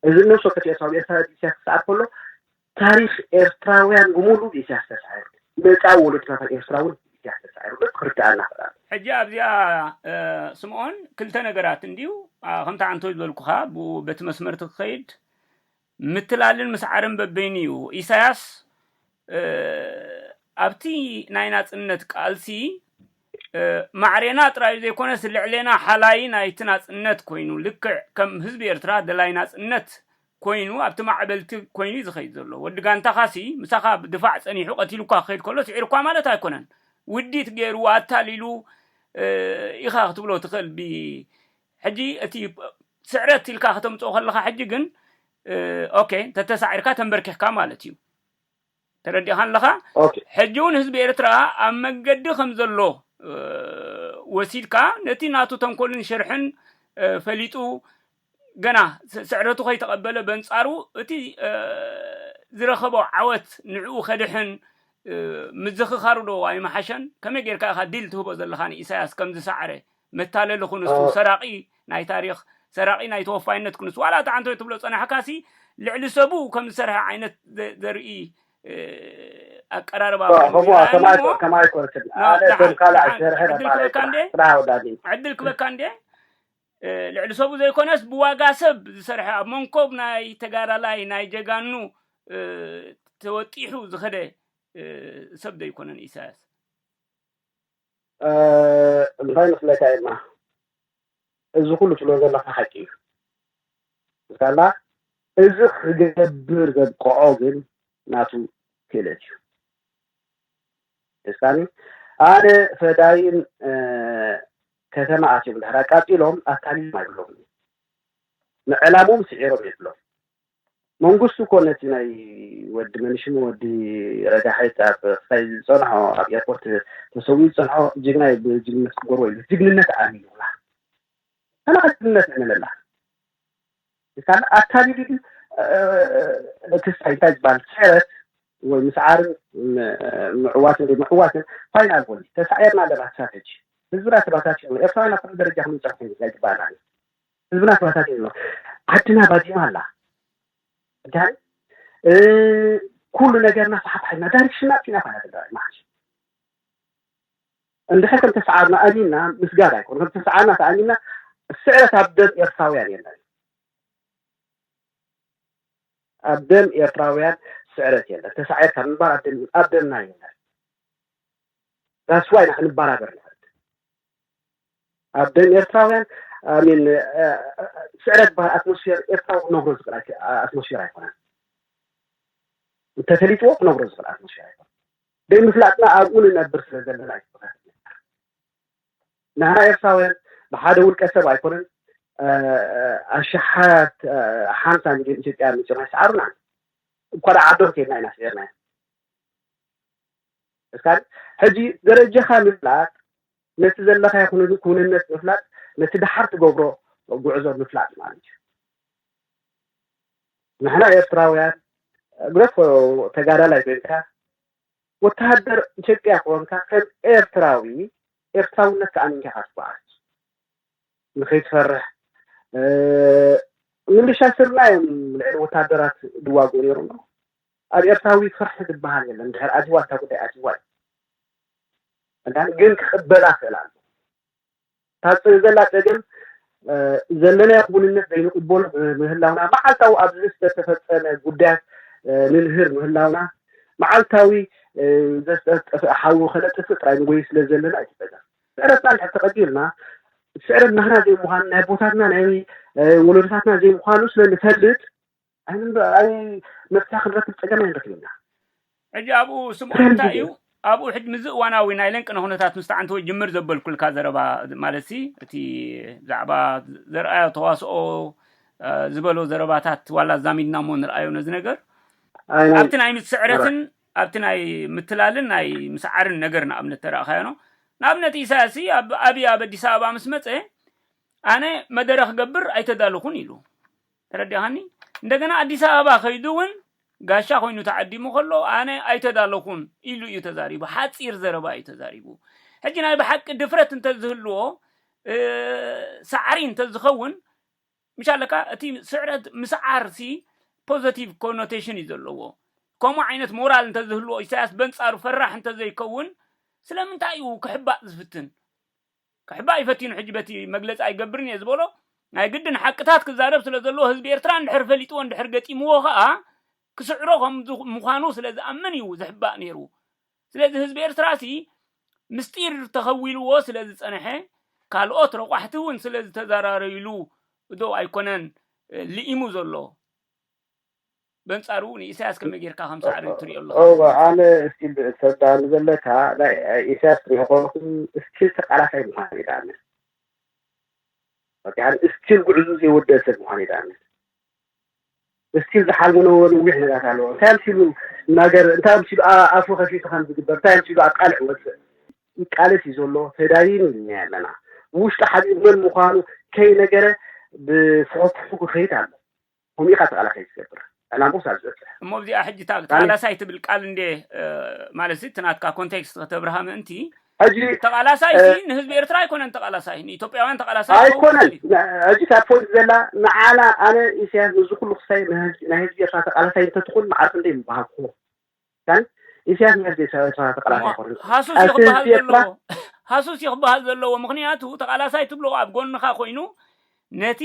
እዚ እነሆ ሸው ከፊኤ ሳብ ኤርትራ ብኢሳያስ ክሰዓር ከሎ ታሪኽ ኤርትራውያን ብሙሉኡ ብኢሳያስ ተሳዒሩ መጻኢ ወሎድናታት ኤርትራ ውን ብኢሳያስ ተሳዒሩ ዶ ክርደኣና ይኽእል ኣሎ። ሕጂ ኣብዚኣ ስምኦን ክልተ ነገራት እንድዩ ከምቲ ኣንቶይ ዝበልኩኻ ብኡ በቲ መስመር እቲ ክኸይድ ምትላልን ምስዓርን በበይኑ እዩ ኢሳያስ ኣብቲ ናይ ናጽነት ቃልሲ ማዕሬና ጥራዩ ዘይኮነስ ልዕሌና ሓላይ ናይቲ ናጽነት ኮይኑ ልክዕ ከም ህዝቢ ኤርትራ ደላይ ናጽነት ኮይኑ ኣብቲ ማዕበልቲ ኮይኑ ዝኸይድ ዘሎ ወዲ ጋንታኻሲ ምሳኻ ብድፋዕ ጸኒሑ ቀቲሉካ ክኸይድ ከሎ ስዒሩካ ማለት ኣይኮነን ውዲት ገይሩ ኣታሊሉ ኢኻ ክትብሎ ትኽእል ብ ሕጂ እቲ ስዕረት ኢልካ ከተምጽኦ ከለኻ ሕጂ ግን ኦኬ እንተተሳዒርካ ተንበርኪኽካ ማለት እዩ ተረዲኻ ኣለኻ ኦኬ ሕጂ እውን ህዝቢ ኤርትራ ኣብ መገዲ ከም ዘሎ እ፣ ወሲድካ ነቲ ናቱ ተንኮልን ሽርሕን እ፣ ፈሊጡ ገና ስ- ስዕረቱ ከይተቐበለ በንጻሩ እቲ እ፣ ዝረኸቦ ዓወት ንዕኡ ከድሕን እ፣ ምዝኽኻሩ ዶ ኣይምሓሸን ከመይ ጌርካ ኢኻ ዲል ትህቦ ዘለኻ ንኢሳያስ ከም ዝሰዓረ መታለሊ ኩንስቱ ሰራቂ ናይ ታሪኽ ሰራቂ ናይ ተወፋይነት ኩንስ ዋላ እታ ዓንተቤት ትብሎ ዝጸናሕካሲ ልዕሊ ሰቡ ከም ዝሰርሐ ዓይነት ዘርኢ ኣቀራርባ ዕድል ክበካ እንዴ ልዕሊ ሰቡ ዘይኮነስ ብዋጋ ሰብ ዝሰርሐ ኣብ መንኮብ ናይ ተጋዳላይ ናይ ጀጋኑ ተወጢሑ ዝኸደ ሰብ ዘይኮነን ኢሳያስ እንታይ መስለካ ኤማ እዚ ኩሉ ትብሎ ዘለካ ሓቂ እዩ እስካላ እዚ ክገብር ዘብቅዖ ግን ናቱ ክእለት እዩ እስካኒ ኣነ ፈዳይን ከተማ ኣትዮም ድሕር ኣቃጺሎም ኣታሊሎም ኣይብሎም ንዕላሞም ስዒሮም የብሎም መንግስቱ እኮ ነቲ ናይ ወዲ መንሽም ወዲ ረዳሐት ኣብ ክሳይ ዝጸንሖ ኣብ ኤርፖርት ተሰዊኡ ዝጸንሖ ጅግና እዩ ብጅግነት ክጎርዎ ኢሉ ጅግንነት ኣሚኑላ ሰላካ ጅግንነት እምነላ ካል ኣታሊሉ ድዩ ክሳይ እንታይ ዝበሃል ሰረት ወይ ምስዓርን ምዕዋትን ዘይምዕዋትን ፋይናል ቦል ተሳዒርና ኣለና ክሳብ ሕጂ ህዝብና ተባታቲኑ ኤርትራውያን ኣብ ኩሉ ደረጃ ክንብፀሕ ኮይኑ ግባኣና ህዝብና ተዋሳሲን ኣሎ ዓድና ባዲማ ኣላ ዳን ኩሉ ነገርና ፋሕፋሕ ኢልና ዳይሬክሽንና ኣጥፊና ፋሕፋሕ ትግራይ ማዓሽ እንድሕር ከም ተሰዓርና ኣሚንና ምስጋድ ኣይኮነ ከም ተሰዓርና ተኣሚንና ስዕረት ኣብ ደም ኤርትራውያን የለን ኣብ ደም ኤርትራውያን ስዕረት የለን ተሳዒርካ ምንባር ኣብ ደምና የለን ዳስዋ ኢና ክንበራበር ንኽእል ኣብ ደም ኤርትራውያን ኣሚን ስዕረት ዝበሃል ኣትሞስፌር ኤርትራዊ ክነብሮ ዝኽእል ኣትሞስፌር ኣይኮነን። እንተፈሊጥዎ ክነብሮ ዝኽእል ኣትሞስፌር ኣይኮነን። ዘይምፍላጥና ኣብኡ ንነብር ስለ ዘለና እዩ ንሕና ኤርትራውያን ብሓደ ውልቀ ሰብ ኣይኮነን ኣሽሓት ሓምሳ ሚልዮን ኢትዮጵያ መፂኦም ኣይሰዓሩናን እኳ ደኣ ዓዶም ከይድና ኢና ስዒርናዮም ሕጂ ደረጃኻ ምፍላጥ ነቲ ዘለኻዮ ክውንነት ምፍላጥ ነቲ ደሓር ትገብሮ ጉዕዞ ምፍላጥ ማለት እዩ ንሕና ኤርትራውያን ግደፎ ተጋዳላይ ኮይንካ ወተሃደር ኢትዮጵያ ክኾንካ ከም ኤርትራዊ ኤርትራውነት ተኣሚንካ ኢኻ ትጓዓዝ ንኸይትፈርሕ ምልሻ ስርና እዮም ልዕሊ ወተሃደራት ዝዋግኡ ነይሮም ኣብ ኤርትራዊ ፍርሒ ዝባሃል የለን እንድሕር ኣትይዋ እታ ጉዳይ ኣትይዋ እዩ እዳን ግን ክቅበላ ክእል ኣለዎ እታ ዘላ ጸገም ዘለናዮ ክውንነት ዘይንቅበሎ ምህላውና መዓልታዊ ኣብዚ ዝተፈጸመ ጉዳያት ንንህር ምህላውና መዓልታዊ ዘስጠፍእ ሓዊ ከነጥፍእ ጥራይ ንጎይ ስለ ዘለና እዩ ጸገም ስዕረትና እንድሕር ተቀቢልና ስዕረት ናህና ዘይምዃኑ ናይ ኣቦታትና ናይ ወለዶታትና ዘይምዃኑ ስለ ንፈልጥ ኣነ እምበ ኣይ መፍትሒ ክንረክብ ጸገም ኣይንረክብና። ሕጂ ኣብኡ ስምኡ እንታይ እዩ? ኣብኡ ሕጂ ምስዚ እዋናዊ ናይ ለንቅነ ኩነታት ምስ ተዓንተወ ጅምር ዘበልኩልካ ዘረባ ማለትሲ እቲ ብዛዕባ ዘርኣያ ተዋስኦ ዝበሎ ዘረባታት ዋላ ኣዛሚድና እሞ ንርኣዮ ነዚ ነገር ኣይ ናይ ኣብቲ ናይ ምስዕረትን ኣብቲ ናይ ምትላልን ናይ ምስዓርን ነገር ንኣብነት ተረእኻዮኖ ንኣብነት ኢሳያስ ሲ ኣብ ኣብይ ኣብ ኣዲስ ኣበባ ምስ መጸ ኣነ መደረ ክገብር ኣይተዳለኹን ኢሉ ተረዲእኻኒ? እንደገና ኣዲስ ኣበባ ከይዱ እውን ጋሻ ኮይኑ ተዓዲሙ ከሎ ኣነ ኣይተዳለኹን ኢሉ እዩ ተዛሪቡ። ሓፂር ዘረባ እዩ ተዛሪቡ። ሕጂ ናይ ብሓቂ ድፍረት እንተዝህልዎ ሳዕሪ እንተዝኸውን ምሻ ኣለካ እቲ ስዕረት ምስዓር ሲ ፖዘቲቭ ኮኖቴሽን እዩ ዘለዎ ከምኡ ዓይነት ሞራል እንተዝህልዎ ኢሳያስ በንጻሩ ፈራሕ እንተዘይከውን ስለምንታይ እዩ ክሕባእ ዝፍትን ክሕባእ እዩ ፈቲኑ ሕጂ በቲ መግለጺ ኣይገብርን እየ ዝበሎ ናይ ግድን ሓቅታት ክዛረብ ስለ ዘለዎ ህዝቢ ኤርትራ እንድሕር ፈሊጥዎ እንድሕር ገጢምዎ ከኣ ክስዕሮ ከም ምዃኑ ስለ ዝኣምን እዩ ዝሕባእ ነይሩ ስለዚ ህዝቢ ኤርትራሲ ምስጢር ተኸዊልዎ ስለ ዝጸንሐ ካልኦት ረቋሕቲ እውን ስለ ዝተዘራረይሉ ዶ ኣይኮነን ልኢሙ ዘሎ በንጻሩ ንኢሳያስ ከመይ ጌርካ ከም ሳዕሪ ትሪኦ ኣለኻ? እወ ኣነ እስኪ ተዳሉ ዘለካ ናይ ኢሳያስ ትሪኦኮለኩ እስቲል ተቃላሳይ ምዃን እዩ ዳኣመ ወዲሓን እስቲል ጉዕዙ ዘይወደእ ሰብ ምዃን እዩ ዳኣመ እስቲል ዝሓልሞ ነበ ንዊሕ ነጋት ኣለዎ እንታይ ኣምሲሉ ነገር እንታይ ኣምሲሉ ኣፉ ከፊቱ ከም ዝግበር እንታይ ኣምሲሉ ኣብ ቃልዕ ወፅእ ይቃለስ እዩ ዘሎ ተዳይኑ እኛ ኣለና ውሽጢ ሓቢብ መን ምዃኑ ከይነገረ ብፍሑፍሑ ክኸይድ ኣሎ ከምኡ ኢኻ ተቓላሳይ ትገብር ዕላምኡስ ኣብ ዝበጽሕ። እሞ ኣብዚኣ ሕጂ እታ ተቓላሳይ ትብል ቃል እንድየ ማለትሲ እቲ ናትካ ኮንቴክስት ከተብርሃ ምእንቲ ሕጂ ተቓላሳይሲ ንህዝቢ ኤርትራ ኣይኮነን ተቓላሳይ ንኢትዮጵያውያን ተቓላሳይ ክኸውን ኣይኮነን ይኽእል እዩ። ን- ሕጂ እታ ፖይንት ዘላ ንዓና ኣነ ኢሳያስ ንዚ ኩሉ ክሳይ ንህዝቢ- ናይ ህዝቢ ኤርትራ ተቓላሳይ እንተትኹን መዓር ክንደይ ምበሃግኩዎ ሱዳን ኢሳያስ ምስ ዴሳዊ ተዋሳእቲ ቃላት ኣይኮኑን እሞ ሃሱስ እዩ ቃልሲ ክበሃል ህዝቢ ኤርትራ ዘለዎ ሃሱስ እዩ ክበሃል ዘለዎ ምኽንያቱ ተቓላሳይ ትብሎ ኣብ ጎንኻ ኮይኑ ነቲ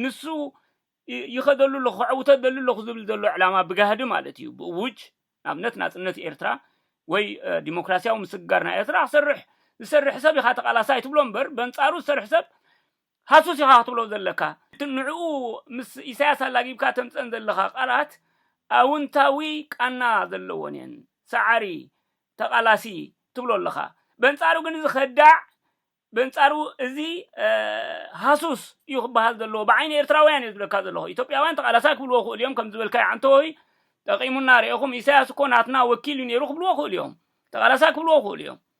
ንሱ ይ- ይኸደሉ ኣለኹ ከዕውቶ ደሊ ኣለኹ ዝብል ዘሎ ዕላማ ብጋህዲ ማለት እዩ ብእውጅ ንኣብነት ናጽነት ኤርትራ ወይ እ፣ ዲሞክራስያዊ ምስግጋር ናይ ኤርትራ ክሰርሕ ዝሰርሕ ሰብ ኢኻ ተቓላሳይ ትብሎ እምበር በንጻሩ ዝሰርሕ ሰብ ሃሱስ ኢኻ ክትብሎ ዘለካ። እቲ ንዕኡ ምስ ኢሳያስ ኣላጊብካ ተምጸን ዘለኻ ቃላት ኣውንታዊ ቃና ዘለዎን እየን። ሰዓሪ፣ ተቃላሲ ትብሎ ኣለኻ። በንጻሩ ግን እዚ ከዳዕ በንጻሩ እዚ ሃሱስ እዩ ክበሃል ዘለዎ። ብዓይኒ ኤርትራውያን እየ ዝብለካ ዘለኹ። ኢትዮጵያውያን ተቃላሳይ ክብልዎ ይኽእሉ እዮም ከምዚ ዝበልካዮ ዓንተወይ ጠቂሙና ርኤኹም ኢሳያስ እኮ ናትና ወኪል እዩ ነይሩ ክብልዎ ይኽእሉ እዮም። ተቃላሳይ ክብልዎ ይኽእሉ እዮም።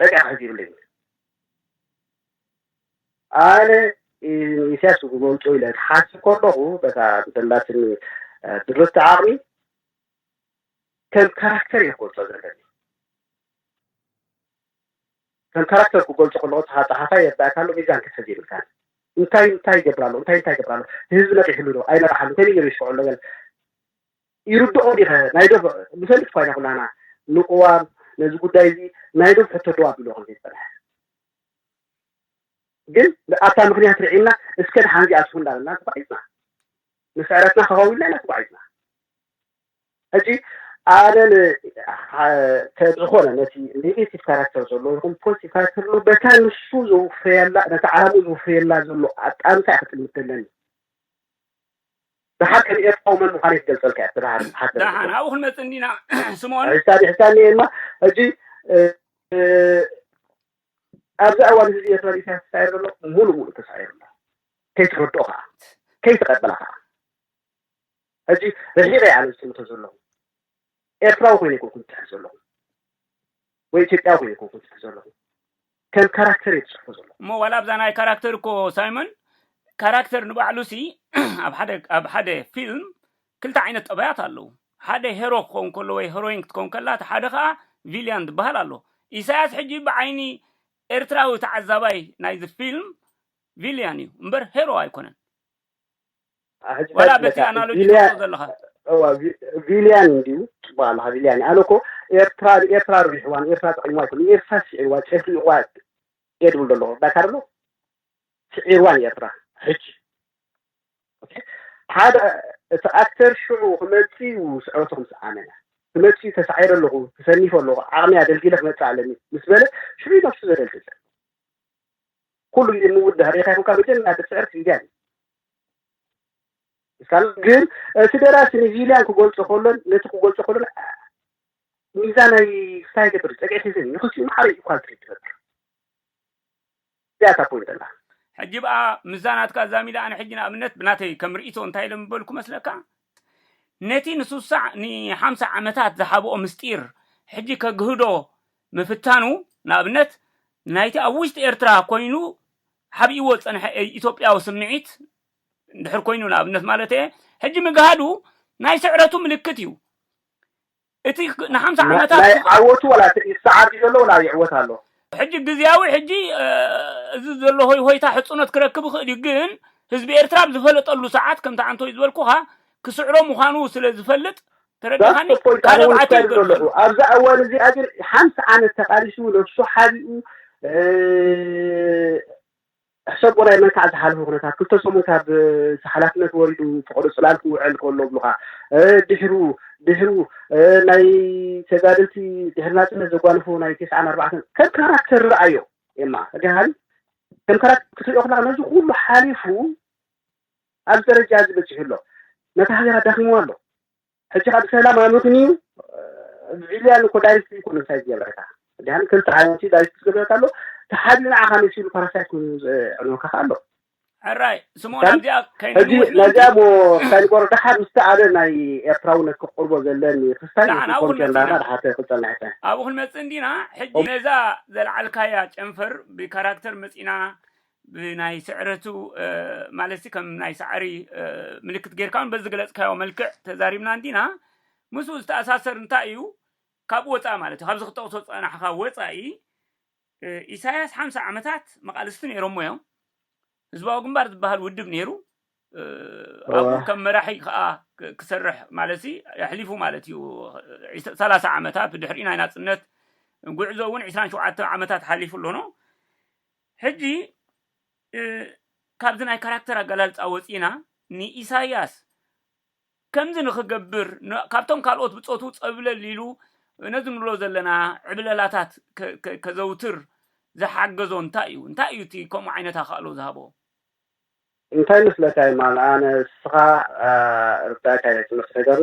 በቃ ሕጂ ይብለይ በሉ ኣነ ኢሳያስ ክመውጮ ኢለ ክሓስብ ከለኹ በታ ብዘላትኒ ድርብቲ ዓቕሚ ከም ካራክተር እየ ክገልጾ ዘለኒ ከም ካራክተር ክገልጾ ከለኹ እታ ጸሓፋይ የርዳእካ ኣሎ ሚዛን ክትሕዝ ይብልካን እንታይ እንታይ ይገብር ኣሎ እንታይ እንታይ ይገብር ኣሎ ህዝቢ ነቂሕሉ ዶ ኣይነቕሓሉ ከመይ ገይሩ ይስክዖ ኣሎ ገለ ይርድኦ ዲኸ ናይ ዶብ ንፈልጥ እኳ ኢና ኩላና ንቅዋም ነዚ ጉዳይ እዚ ናይ ዶብ ሕቶ ደው ኣቢልዎ ከም ዘይጸንሐ ግን ኣብታ ምክንያት ርዒምና እስከ ድሓን እዚኣ ትኹን እንዳበልና ተጓዒዝና ንስዕረትና ከኸዊልና ኢና ተጓዒዝና ሕጂ ኣነ ዝኾነ ነቲ ኔጌቲቭ ካራክተር ዘሎ ይኹን ፖዚቲቭ ካራክተር ዘሎ በታ ንሱ ዘውፍረየላ ነቲ ዓላሙ ዘውፍረየላ ዘሎ ኣጣምታ እያ ክጥምት ዘለኒ ብሓቂ ንኤርትራዊ መን ምዃነይ ክገልጸልካ እየ ተባሃር ሓሰረ ደሓን ኣብኡ ክንመጽእ እንዲና ስምኦን ሕሳብ ይሕሳኒ እየ እማ ሕጂ ኣብዚ ኣዋን ህዝቢ ኤርትራ ንኢሳያስ ተሳዒሩ ዘሎ ሙሉ ሙሉ ተሳዒሩ ኣሎ ከይትረድኦ ከዓ ከይትቐበላ ከዓ ሕጂ ርሒቐ ኣነ ዝጥምቶ ዘለኹ ኤርትራዊ ኮይነ ይኮንኩ ዝፅሕፍ ዘለኹ ወይ ኢትዮጵያዊ እየ ኮንኩ ዝጽሕፍ ዘለኹ ከም ካራክተር እየ ዝጽሕፎ ዘለኹ። እሞ ዋላ ኣብዛ ናይ ካራክተር እኮ ሳይሞን ካራክተር ንባዕሉሲ ኣብ ሓደ ኣብ ሓደ ፊልም ክልተ ዓይነት ጠባያት ኣለዉ ሓደ ሄሮ ክኸውን ከሎ ወይ ሄሮይን ክትከውን ከላ እቲ ሓደ ከኣ ቪልያን ዝበሃል ኣሎ ኢሳያስ ሕጂ ብዓይኒ ኤርትራዊ ተዓዛባይ ናይዚ ፊልም ቪልያን እዩ እምበር ሄሮ ኣይኮነን። ዋላ በቲ ኣናሎጂ ትወስዶ ዘለኻ እዋ ቪ- ቪልያን እንዲዩ ፅቡቅ ኣለካ ቪልያን ኣነ እኮ ኤርትራ ንኤርትራ ርቢሕዋ ንኤርትራ ጠቂምዋ ይኮን ንኤርትራ ስዒርዋ ጨፍሊቅዋ እየ ድብል ደለኹ ዳካ ደሎ ስዒርዋ ንኤርትራ ሕጂ ሓደ እቲ ኣክተር ሽዑ ክመፅእ እዩ ስዕረቱ ከም ዝዓመለ ክመፅእ እዩ ተሳዒረ ኣለኹ ተሰኒፈ ኣለኹ ዓቕሚ ኣደልዲለ ክመፅእ ኣለኒ ምስ በለ ሽዑ እዩ ነብሱ ዘደልድል ኩሉ ግዜ ምውዳህ ሪኢኻ ይኹንካ መጀመርያ ትፅዕር ቪልያን እዩ እስካል ግን እቲ ደራሲ ንቪልያን ክገልጾ ከሎን ነቲ ክገልጾ ከሎን ሚዛናዊ ክሳይ ገብር ጸግዒት ህዝን ንክልቲኡ ማዕረ እዩ ኳልቲ ትፈጥር እዚኣ እታ ፖይንት ኣላ ሕጂ ብኣ ምዛናትካ ዛሚዳ ኣነ ሕጂ ንኣብነት ብናተይ ከም ርእቶ እንታይ ኢሎም ዝበልኩ መስለካ ነቲ ንሱሳዕ ንሓምሳ ዓመታት ዝሓብኦ ምስጢር ሕጂ ከግህዶ ምፍታኑ ንኣብነት ናይቲ ኣብ ውሽጢ ኤርትራ ኮይኑ ሓቢእዎ ዝጸንሐ ኢትዮጵያዊ ስምዒት እንድሕር ኮይኑ ንኣብነት ማለተይ'የ፣ ሕጂ ምግሃዱ ናይ ስዕረቱ ምልክት እዩ። እቲ ንሓምሳ ዓመታት ናይ ዝቐ ዓወቱ ዋላ እቲ ይሰዓር ድዩ ዘሎ ዋላ ይዕወት ኣሎ? ሕጂ ግዝያዊ ሕጂ እዚ ዘሎ ሆይሆይታ ሕጽኖት ክረክብ ይኽእል እዩ፣ ግን ህዝቢ ኤርትራ ኣብ ዝፈለጠሉ ሰዓት ከምቲ ኣንቶይ ዝበልኩኻ ክስዕሮ ምዃኑ ስለ ዝፈልጥ፣ That's the point ኣነ ውን እታይ ኢለ ዘለኹ ኣብዛ እዋን እዚኣ ግን ሓንቲ ዓመት ተቃሊሱ ነብሱ ሓቢኡ ሕሰቦ ናይ መንካዕ ዝሓለፈ ኩነታት ክልተ ሰሙን ካብ ሓላፍነት ወሪዱ ፍቅዶ ጽላል ክውዕል ከሎ ብሉካ ድሕሩ ድሕሩ ናይ ተጋደልቲ ድሕሪ ናጽነት ዘጓንፎ ናይ ተስዓን ኣርባዕተን ከም ካራክተር ርኣዮ ኤማ እግሃን ከም ካራክተር ክትሪኦ ከለካ ነዚ ኩሉ ሓሊፉ ኣብዚ ደረጃ እዚ በጺሑ ኣሎ። ነታ ሃገር ኣዳኺምዋ ኣሎ። ሕጂ ከኣ ብሰላም ኣመኽንዩ ቪልያን እኮ ዳይሬክትሊ እኮ ንሳ ዝገበረታ ድያን ክልተ ዓይነት ዳይሬክት ዝገበረታ ኣሎ ተሓቢኡ ንዓኻ መሲሉ ፓራሳይት ኮይኑ ዝዕንወካ ከኣ ኣሎ ሕራይ ስምኦን ኣብዚኣ ከይንወስነዚኣ ሞ ክሳይ ንቆሮ ደሓር ምስቲ ኣደ ናይ ኤርትራውነት ክቅርቦ ዘለኒ ክስታይ ኮንቴንዳና ደሓር ክጸና ሕጸ ኣብኡ ክንመጽእ እንዲና ሕጂ ነዛ ዘልዓልካያ ጨንፈር ብካራክተር መጺና ብናይ ስዕረቱ ማለትሲ ከም ናይ ሳዕሪ ምልክት ጌርካ ውን በዝገለጽካዮ መልክዕ ተዛሪብና እንዲና ምስኡ ዝተኣሳሰር እንታይ እዩ ካብኡ ወጻኢ ማለት እዩ ካብዚ ክጠቕሶ ዝጸናሕካ ወጻኢ ኢሳያስ ሓምሳ ዓመታት መቓልስቲ ነይሮሞ እዮም ህዝባዊ ግንባር ዝበሃል ውድብ ነይሩ ኣብኡ ከም መራሒ ከዓ ክሰርሕ ማለት ሲ ኣሕሊፉ ማለት እዩ ሰላሳ ዓመታት ብድሕሪ ናይ ናፅነት ጉዕዞ እውን ዕስራን ሸውዓተ ዓመታት ሓሊፉ ኣሎ ሕጂ ካብዚ ናይ ካራክተር ኣገላልጻ ወጺእና ንኢሳያስ ከምዚ ንኽገብር ካብቶም ካልኦት ብጾቱ ጸብለል ኢሉ ነዚ ንብሎ ዘለና ዕብለላታት ከዘውትር ዝሓገዞ እንታይ እዩ? እንታይ እዩ እቲ ከምኡ ዓይነት ኣኻእሎ ዝሃቦ? እንታይ መስለካ የማል ኣነ እስኻ ርዳእካ ኢየ ዝመስለይ ዘሎ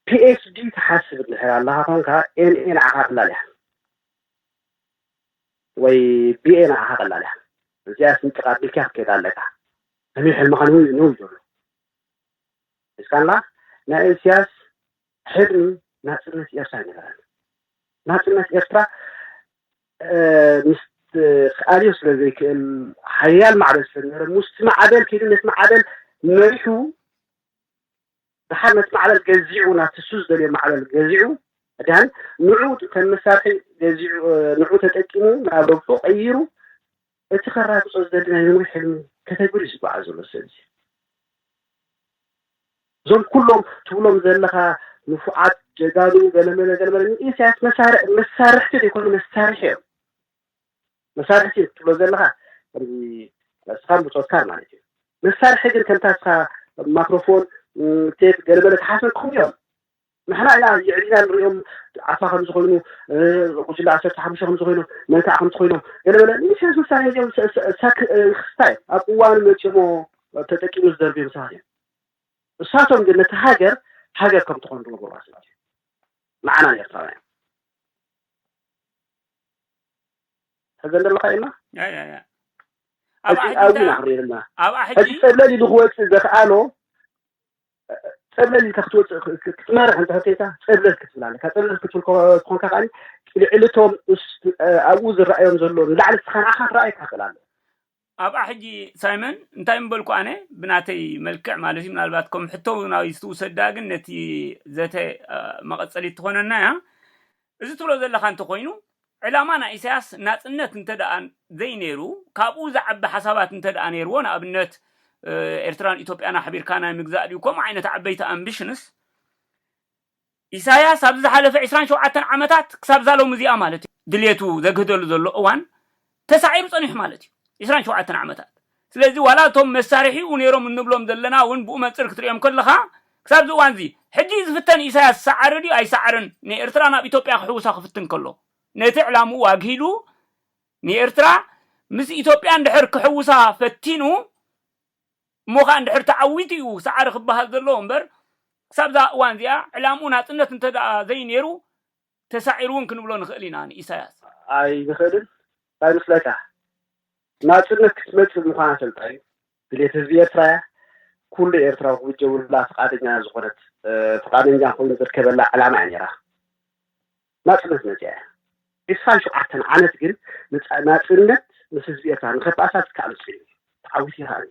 PHD ትሓስብ እንድሕር ኣለኻ ኮንካ NA ንዓኻ ትላል ኢያ። ወይ ቢኤ ንዓኻ ቀላል እያ እዚኣ ስንጥቅ ኣቢልካ ክትከይዳ ኣለካ ህልዊ ሕልምኻ ንውይ ንውይ ዘሎ ሒዝካላ ናይ እሲያስ ሕልሚ ናጽነት ኤርትራ ኣይነበረን ናጽነት ኤርትራ ምስ ክኣልዮ ስለ ዘይክእል ሓያል ማዕበል ስለ ዝነበረ ሙስቲ ማዕበል ከይዱ ነቲ ማዕበል መሪሑ ደሓር ነቲ ማዕበል ገዚዑ ናብቲ ንሱ ዝደልዮ ማዕበል ገዚዑ ድሓን ንዑ ከም መሳርሒ ገዚዑ ንዑ ተጠቂሙ ናብ ረብሑ ቀይሩ እቲ ከራግጾ ዝደሊ ናይ ምንዊ ሕልሚ ከተግብር እዩ ዝጓዓዝ ዘሎ ሰብ እዚ እዞም ኩሎም ትብሎም ዘለኻ ንፉዓት ጀጋኑ ገለመለ ገለመለ ንኢሳያስ መሳርሕቲ ዘይኮኑ መሳርሒ እዮም መሳርሒ ስኢንካ ትብሎ ዘለኻ ከምዚ ንስኻን ብጾትካን ማለት እዩ። መሳርሒ ግን ከምታ ንስኻ ማክሮፎን፣ ቴፕ ገለ መለ ትሓስበኩም እዮም። ንሕና ኢና የዕሊና ንሪኦም ዓፋ ከምዚ ኮይኑ ጉጅለ ዓሰርተ ሓሙሽተ ከምዚ ኮይኖም መን ከዓ ከምዚ ኮይኖም ገለ መለ ንሻስ መሳርሒ እዚኦም ክስታ እዮም ኣብ እዋኑ መፂኦሞ ተጠቂሙ ዝደርብዮም ሰባት እዮም እሳቶም ግን ነቲ ሃገር ሃገር ከም ትኾኑ ዝገበርዋ ሰባት እዮም ንዓና ንኤርትራውያን ተገለ ኣለካ ኢልና ኣብኣ ሕጂ ፀብለል ኢሉ ክወፅእ ዘኽኣሎ ፀብለል ኢልካ ክትወፅእ ክትመርሕ እንተ ኮይንካ ፀብለል ክትብል ኣለካ ፀብለል ክትብል ኮንካ ከዓ ልዕሊ እቶም ኣብኡ ዝረኣዮም ዘሎ ንላዕሊ ስኻ ንዓኻ ክረኣየካ ክእል ኣሎ ኣብኣ ሕጂ ሳይመን እንታይ ምበልኩ ኣነ ብናተይ መልክዕ ማለት እዩ ምናልባት ከም ሕቶ ናበይ ዝትውሰድ ድኣ ግን ነቲ ዘተ መቐጸሊት ትኾነና እያ እዚ ትብሎ ዘለኻ እንተኾይኑ ዕላማ ናይ ኢሳያስ ናጽነት እንተድኣ ዘይነይሩ ካብኡ ዝዓቢ ሓሳባት እንተድኣ ነይርዎ ንኣብነት ኤርትራን ኢትዮጵያን ኣሕቢርካ ናይ ምግዛእ ድዩ ከምኡ ዓይነት ዓበይቲ ኣምቢሽንስ ኢሳያስ ኣብዚ ዝሓለፈ ዕስራን ሸውዓተን ዓመታት ክሳብ እዛ ሎሚ እዚኣ ማለት እዩ ድልየቱ ዘግህደሉ ዘሎ እዋን ተሳዒሩ ጸኒሑ ማለት እዩ ዕስራን ሸውዓተን ዓመታት ስለዚ ዋላ እቶም መሳርሒኡ ነይሮም እንብሎም ዘለና እውን ብኡ መንጽር ክትሪኦም ከለኻ ክሳብ እዚ እዋን እዚ ሕጂ እዩ ዝፍተን ኢሳያስ ሰዓረ ድዩ ኣይሰዓረን ንኤርትራ ናብ ኢትዮጵያ ክሕውሳ ክፍትን ከሎ ነቲ ዕላምኡ ኣግሂዱ ንኤርትራ ምስ ኢትዮጵያ እንድሕር ክሕውሳ ፈቲኑ እሞ ኸኣ እንድሕር ተዓዊቱ እዩ ሰዓሪ ክበሃል ዘለዎ እምበር ክሳብ እዛ እዋን እዚኣ ዕላምኡ ናጽነት እንተድኣ ዘይነይሩ ተሳዒሩ እውን ክንብሎ ንኽእል ኢና ንኢሳያስ። ኣይንኽእልን እንታይ መስለካ ናጽነት ክትመጽእ ምዃና ፈልጣ እዩ ድሌት ህዝቢ ኤርትራ እያ ኩሉ ኤርትራዊ ክውጀቡላ ፍቓደኛ ዝኾነት ፍቓደኛ ኮይኑ ዝርከበላ ዕላማ እያ ነይራ። ናጽነት መጺኣ እያ። ዕስራን ሸውዓተን ዓመት ግን ንጻ ናጽነት ምስ ህዝቢ ኤርትራ ንኸበኣሳ ዝከኣሎ ጽዒሩ እዩ። ተዓዊቱ ይኸኣል'ዩ።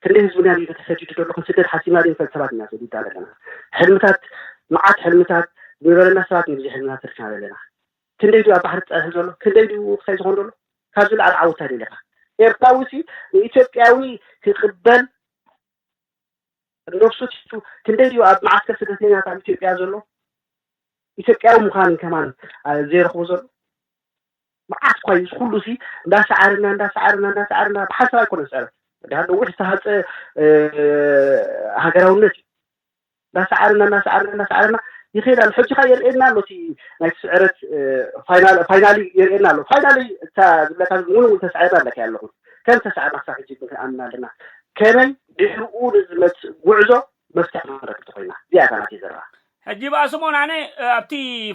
ክንደይ ህዝብና ድዩ ተሰዲዱ ዘሎ ክንስደድ ሓሲብና ድዩ ንፈል ሰባት ኢና ተሰዲድና ዘለና። ሕልምታት መዓት ሕልምታት ዝነበረና ሰባት ንግዜ ሕልምና ተሪፍና ዘለና። ክንደይ ድዩ ኣብ ባሕሪ ተጸኒሑ ዘሎ ክንደይ ድዩ ወቕሳይ ዝኾን ደሎ ካብ ዝለዓለ ዓወት ታይ ደሊኻ። ኤርትራዊ'ሲ ንኢትዮጵያዊ ክቕበል ነፍሱ ትሕቱ ክንደይ ድዩ ኣብ መዓስከር ስደተኛታት ኣብ ኢትዮጵያ ዘሎ ኢትዮጵያዊ ምዃን ከማን ዘይረኽቦ ዘሎ መዓት እኳ እዩ ዝኩሉ ሲ እንዳሰዓርና እንዳሰዓርና እንዳሰዓርና ብሓንሳብ ኣይኮነ ዝፀረ ድያ ነዊሕ ዝተሃፀ ሃገራውነት እዩ እንዳሰዓርና እንዳሰዓርና እንዳሰዓርና ይኸይድ ኣሎ ሕጂ ካ የርእየና ኣሎ እቲ ናይ ስዕረት ፋይናሊ የርእየና ኣሎ ፋይናሊ እታ ዝብለካ እውን እውን ተስዓርና ኣለካ ኣለኹን ከም ተስዓርና ክሳብ ሕጂ ግን ክንኣምና ኣለና ከመይ ድሕርኡ ንዝመጽእ ጉዕዞ መፍትሕ ክንረክብ ተኾይና እዚኣ እታ ናተይ ዘረባ። ሕጂ ባኣ ስምኦን ኣነ ኣብቲ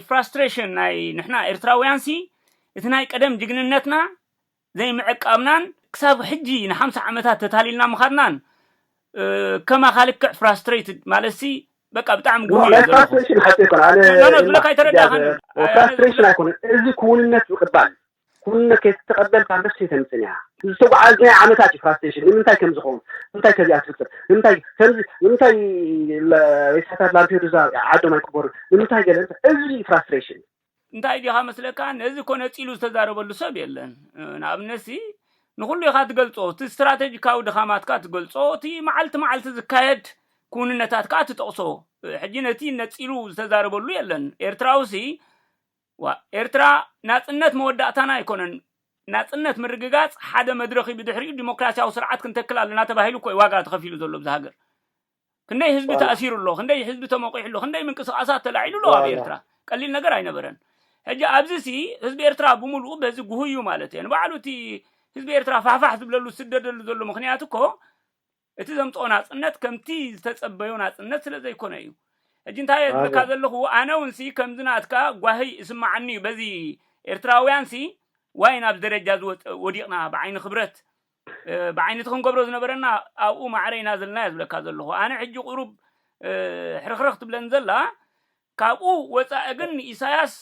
ፍራስትሬሽን ናይ ንሕና ኤርትራውያንሲ እቲ ናይ ቀደም ጅግንነትና ዘይምዕቃብናን ክሳብ ሕጂ ንሓምሳ ዓመታት ተታሊልና ምኻድናን ከማኻ ልክዕ ፍራስትሬትድ ማለትሲ በቃ ብጣዕሚ ጉሁይ ናይ ዘለኹ ፍራስትሬሽን ሓቂ ኣይኮነ ኣነ ኖ ኖ ዝብለካ ኣይተረዳእካን ፍራስትሬሽን ኣይኮነ እዚ ክውንነት ዝቅባል ኩነ ከይተቀበልካ ነፍሲ ተምጽን እያ ዝተጓዓዝናዮ ዓመታት እዩ ፍራስትሬሽን ንምንታይ ከምዚ ኸውን ንምንታይ ከዚኣ ትፍጥር ንምንታይ ከምዚ ንምንታይ ሬሳታት ላምፔዱዛ ዓዶም ኣይቅበሩን ንምንታይ ገለ እንታይ እዚ እዩ ፍራስትሬሽን እንታይ ዲኻ መስለካ ነዚ እኮ ነጺሉ ዝተዛረበሉ ሰብ የለን ንኣብነት ሲ ንኹሉ ኢኻ ትገልጾ እቲ ስትራተጂካዊ ድኻማትካ ትገልጾ እቲ መዓልቲ መዓልቲ ዝካየድ ክውንነታት ከኣ ትጠቕሶ ሕጂ ነቲ ነጺሉ ዝተዛረበሉ የለን ኤርትራዊ ሲ ዋእ ኤርትራ ናጽነት መወዳእታና ኣይኮነን ናጽነት ምርግጋጽ ሓደ መድረኽ እዩ ብድሕሪኡ ዲሞክራሲያዊ ስርዓት ክንተክል ኣለና ተባሂሉ እኮ እዩ ዋጋ ተኸፊሉ ዘሎ ብዛ ሃገር ክንደይ ህዝቢ ዋላ ተኣሲሩ ኣሎ ክንደይ ህዝቢ ተመቂሑ ኣሎ ክንደይ ምንቅስቃሳት ተላዒሉ ኣሎ ኣብ ዋላ ኤርትራ ቀሊል ነገር ኣይነበረን ሕጂ ኣብዚ ሲ ህዝቢ ኤርትራ ብምሉኡ በዚ ጉህዩ ማለት እየ ንባዕሉ እቲ ህዝቢ ኤርትራ ፋሕፋሕ ዝብለሉ ዝስደደሉ ዘሎ ምክንያት እኮ እቲ ዘምጽኦ ናጽነት ከምቲ ዝተጸበዮ ናጽነት ስለ ዘይኮነ እዩ። ሕጂ እንታይ እየ ዝብለካ ዘለኹ ኣነ ውንሲ ከምዚ ናትካ ጓሂ እስመዓኒ እዩ በዚ ኤርትራውያንሲ ዋይ ናብዚ ደረጃ እዚ ወዲቕና ብዓይኒ ክብረት ብዓይኒ እቲ ክንገብሮ ዝነበረና ኣብኡ ማዕረ ኢና ዘለና እየ ዝብለካ ዘለኹ ኣነ ሕጂ ቁሩብ ሕርኽርኽ ትብለን ዘላ ካብኡ ወጻኢ ግን ኢሳያስ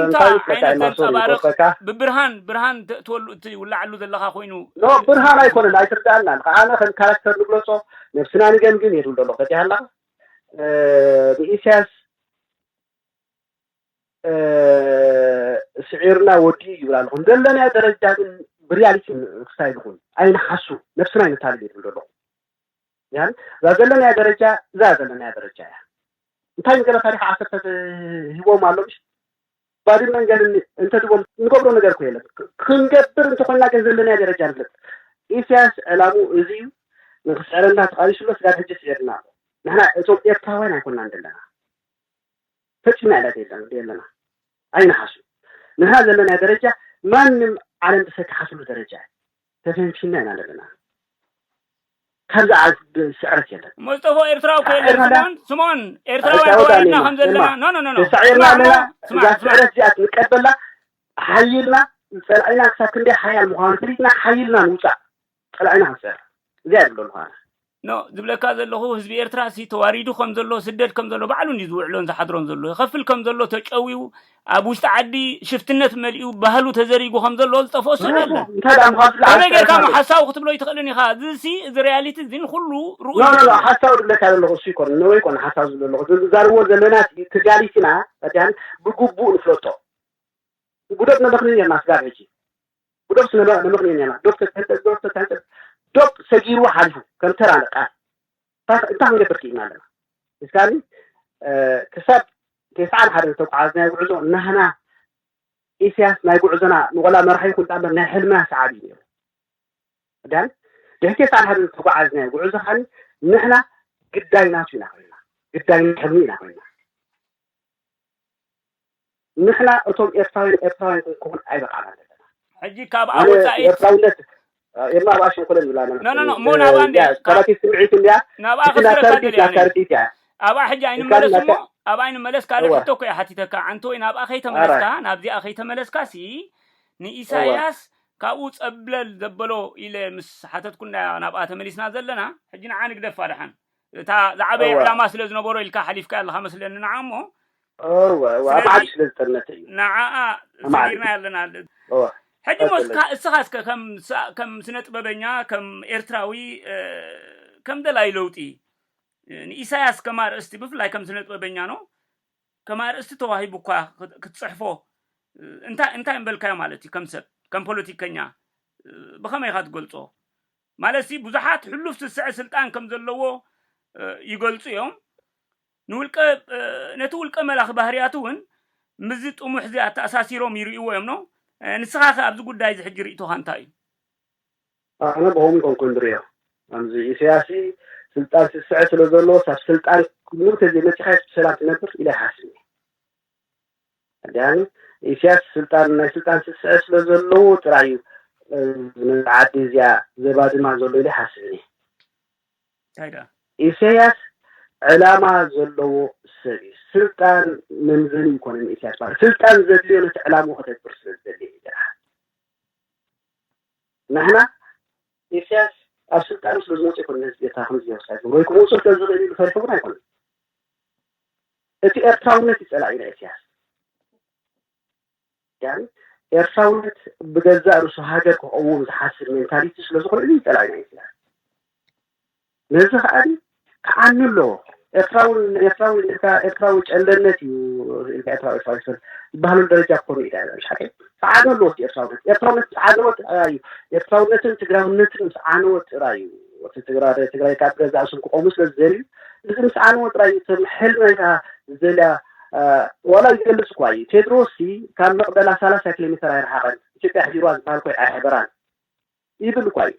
እንታይ እዩ ኮታዒ ማሶር እዩ ጎበካ ብብርሃን ብርሃን ተእትወሉ እቲ ውላዓሉ ዘለኻ ኮይኑ ኖ ብርሃን ኣይኮነን ኣይትርዳኣና ኣለኻ ኣነ ከም ካራክተር ንግለጾ ነብስና ንገምግም እየ ዝብል ዘሎ ፈቲሓ ኣለኻ ንኢሳያስ ስዒርና ወዲኡ ይብል ኣለኹ ዘለናዮ ደረጃ ግን ብሪያሊቲ ክስታይ ንኹን ኣይንሓሱ ነብስና ኣይነታልል እየ ዝብል ዘለኹ ምኽንያቱ እዛ ዘለናያ ደረጃ እዛ ዘለናያ ደረጃ እያ እንታይ ንገለ ታሪክ ዓሰርተ ሂቦም ኣሎ ምሽ ባድመን ገለ እንተድቦም ንገብሮ ነገር እኮ የለን ክንገብር እንተኮይና ግን ዘለናያ ደረጃ ንፍለጥ ኢሳያስ ዕላሙ እዚ እዩ ንክስዕረና ተቃሊሱሎ ስጋብ ሕጂ ስዒርና ኣሎ ንሕና እቶም ኤርትራውያን ኣይኮናን ዘለና ፈጺምና ኢላ ዘለና ኣይንሓሱ ንሕና ዘለና ደረጃ ማንም ዓለም ዝሰካሓትሉ ደረጃ እዩ ተሰንፊና ኢና ዘለና ካብ ዝዓዝብ ስዕረት የለን። እሞ ዝጠፍኦ ኤርትራዊ እኮ የለን ስምኦን ስምኦን ኤርትራውያን ተዋሪድና ከም ዘለና ኖ ኖ ኖ ተሳዒርና ኣለና እዛ ስዕረት እዚኣ ክንቀበላ ሓይልና ጸላኢና ክሳብ ክንደይ ሓያል ምዃኑ ፈሊጥና ሓይልና ንውጻእ ጸላኢና ክንስዕር እዚኣ የብሎ ንዃና ን ዝብለካ ዘለኹ ህዝቢ ኤርትራሲ ተዋሪዱ ከም ዘሎ ስደድ ከም ዘሎ ባዕሉ እንድዩ ዝውዕሎን ዝሓድሮን ዘሎ ይኸፍል ከም ዘሎ ተጨውዩ ኣብ ውሽጢ ዓዲ ሽፍትነት መሊኡ ባህሉ ተዘሪጉ ከም ዘሎ ዝጠፍኦ ስእሊ ኣሎ ምኽንያቱ እንታይ ደኣ ምዃኑ ስለ ከመይ ጌርካ እሞ ኣፍቀርካሉ ሓሳዊ ክትብሎ ኣይትኽእልን ኢኻ እዚሲ እዚ ሪያሊቲ እዚ ንኹሉ ርኡይ ኖ ኖ ኖ ስእሊ እዩ ሓሳዊ ዝብለካ ዘለኹ እሱ ኣይኮነን ነወይ ኮነ ሓሳዊ ዝብል ዘለኹ እዚ ንዛረብዎ ዘለናሲ ተጋሊስና ፈቲሃን ብግቡእ ንፍለጦ ጉደት መበኽኒ ኔርና ስጋብ ሕጂ ብዶብ ስነ ለምኽንዮ ኔርና ዶብ ተትህንጠፅ ዶብ ተትህንጠፅ ዶብ ሰጊርዎ ሓሊፉ ከም ተራ ለቃሕ እንታይ እንታይ ክንገብር ክኢልና ኣለና እስካኒ ክሳብ ቴስዓን ሓደን ዝተጓዓዝናዮ ጉዕዞ ናህና ኢስያስ ናይ ጉዕዞና ንቆላ መራሒ ይኹን ዳኣምበር ናይ ሕልምና ሰዓቢ እዩ ነይሩ ዳን ድሕሪ ቴስዓን ሓደን ዝተጓዓዝናዮ ጉዕዞ ኻኒ ንሕና ግዳይ ናቱ ኢና ኮይና ግዳይ ሕልሙ ኢና ኮይና ንሕና እቶም ኤርትራውያን ኤርትራውያን ክንከውን ኣይበቃዕናን ዘለና። ሕጂ ካብ ኣብ ወጻኢ ኤርትራውነት ኤማ ኣብኣ ሽንኩለ ንብላ ኖ ኖ ኖ እሞ ናብኣ እንድያ ሰራቲት ስምዒት እንድያ ናብኣ ክስረካ ደልየ ኣነ ኣብኣ ሕጂ ኣይንመለስ እሞ ኣብኣ ኣይንመለስ ካልእ ሕቶ እኮ እየ ሓቲተካ ዓንተወይ ናብኣ ከይተመለስካ ናብዚኣ ከይተመለስካ ሲ ንኢሳያስ ካብኡ ጸብለል ዘበሎ ኢለ ምስ ሓተትኩ እንዳ ናብኣ ተመሊስና ዘለና ሕጂ ንዓ ንግደፋ ደሓን እታ ዝዓበየ እወ ዕላማ ስለ ዝነበሮ ኢልካ ሓሊፍካያ ኣለኻ መስለኒ ንዓ እሞ እወ እወ ኣብ ዓዲ ስለዚ ስለ ዝተርነተ እዩ ንዓኣ ኣማዕድዩ ሰጊርናያ ኣለና። እወ ሕጂ እሞ ቀጽል እስካ እስኻ እስከ ከም ስ ከም ስነ ጥበበኛ ከም ኤርትራዊ እ ከም ደላይ ለውጢ እ ንኢሳያስ ከም ኣርእስቲ ብፍላይ ከም ስነ ጥበበኛ ን ከም ኣርእስቲ ተዋሂቡካ ክት ክትጽሕፎ እ እንታይ እንታይ ምበልካዮ ማለት እዩ ከም ሰብ ከም ፖለቲከኛ እ ብኸመይ ኢኻ ትገልጾ? ማለትሲ ብዙሓት ሕሉፍ ስስዐ ስልጣን ከም ዘለዎ ይገልጹ እዮም። ንውልቀ ነቲ ውልቀ መላኺ ባህርያቱ እውን ምስዚ ጥሙሕ እዚ ኣተኣሳሲሮም ይርእይዎ እዮም ን ንስኻ ከ ኣብዚ ጉዳይ እዚ ሕጂ ርእይቶኻ እንታይ እዩ? ኣነ ብኸምኡ ኣይኮንኩን ዝርእዮ ከምዚ ኢሰያሲ ስልጣን ስስዐ ስለ ዘለዎስ ኣብ ስልጣን ሙሉእ ተዘይ መጺኻዮስ ብሰላም ትነብር ኢለ ኣይሓስብን እየ። ዳኒ ኢስያስ ስልጣን ናይ ስልጣን ስስዐ ስለ ዘለዎ ጥራይ እዩ ነዛ ዓዲ እዚኣ ዘባድማ ዘሎ ኢለ ይሓስብ እኔ። እንታይ ደኣ? ኢሰያስ ዕላማ ዘለዎ ሰብ እዩ። ስልጣን መምዘኒ ኣይኮነን ንኢሰያስ ባር ስልጣን ዘድልዮ ነቲ ዕላምኡ ከተግብር ስለ ዝደሊ እዩ ጥራሕ። ንሕና ኢሰያስ ኣብ ስልጣኑ ስለ ዝመጽኦ ኣይኮነን ነዚ ኤርትራ ከምዚ ጀኖሳይድ ዝገብሮ ወይ ክመውጽኦ ስለ ዝኽእል ኢሉ ፈሪሑ እውን ኣይኮነን። እቲ ኤርትራውነት እዩ ጸላኢ ናይ ኢሰያስ ዳኒ ኤርትራውነት ብገዛእ ርእሱ ሃገር ክቐውም ዝሓስብ ሜንታሊቲ ስለ ዝኾነ እዚ ጸላኢ ናይ ኢሰያስ ነዚ ከኣ ክዓኑ ኣለዎ ኤርትራዊ ኤርትራዊ ኢልካ ኤርትራዊ ጨለነት እዩ ኢልካ ኤርትራዊ ኤርትራዊ ዝበሃል ዝበሃለሉ ደረጃ ክኾኑ ኢዳ ኢላ ምሽ ሓቀይ ጸዓዱ ኣለዎት ኤርትራውነት ኤርትራውነት ጸዓደዎት ጥራይ እዩ ኤርትራውነትን ትግራውነትን ምስ ዓነወት ጥራይ እዩ እቲ ትግራይ ትግራይ ካብ ገዛእ ስም ክቆሙ ስለ ዝደልዩ እዚ ምስ ዓነወ ጥራይ እዩ እቶም ሕል ናይታ ዝደልያ ዋላ ይገልጽ እኳ እዩ ቴድሮስ ሲ ካብ መቕደላ ሰላሳ ኪሎ ሜተር ኣይረሓቐን ኢትዮጵያ ሕዲርዋ ዝበሃል ኮይ ኣይሕበራን ይብል እኳ እዩ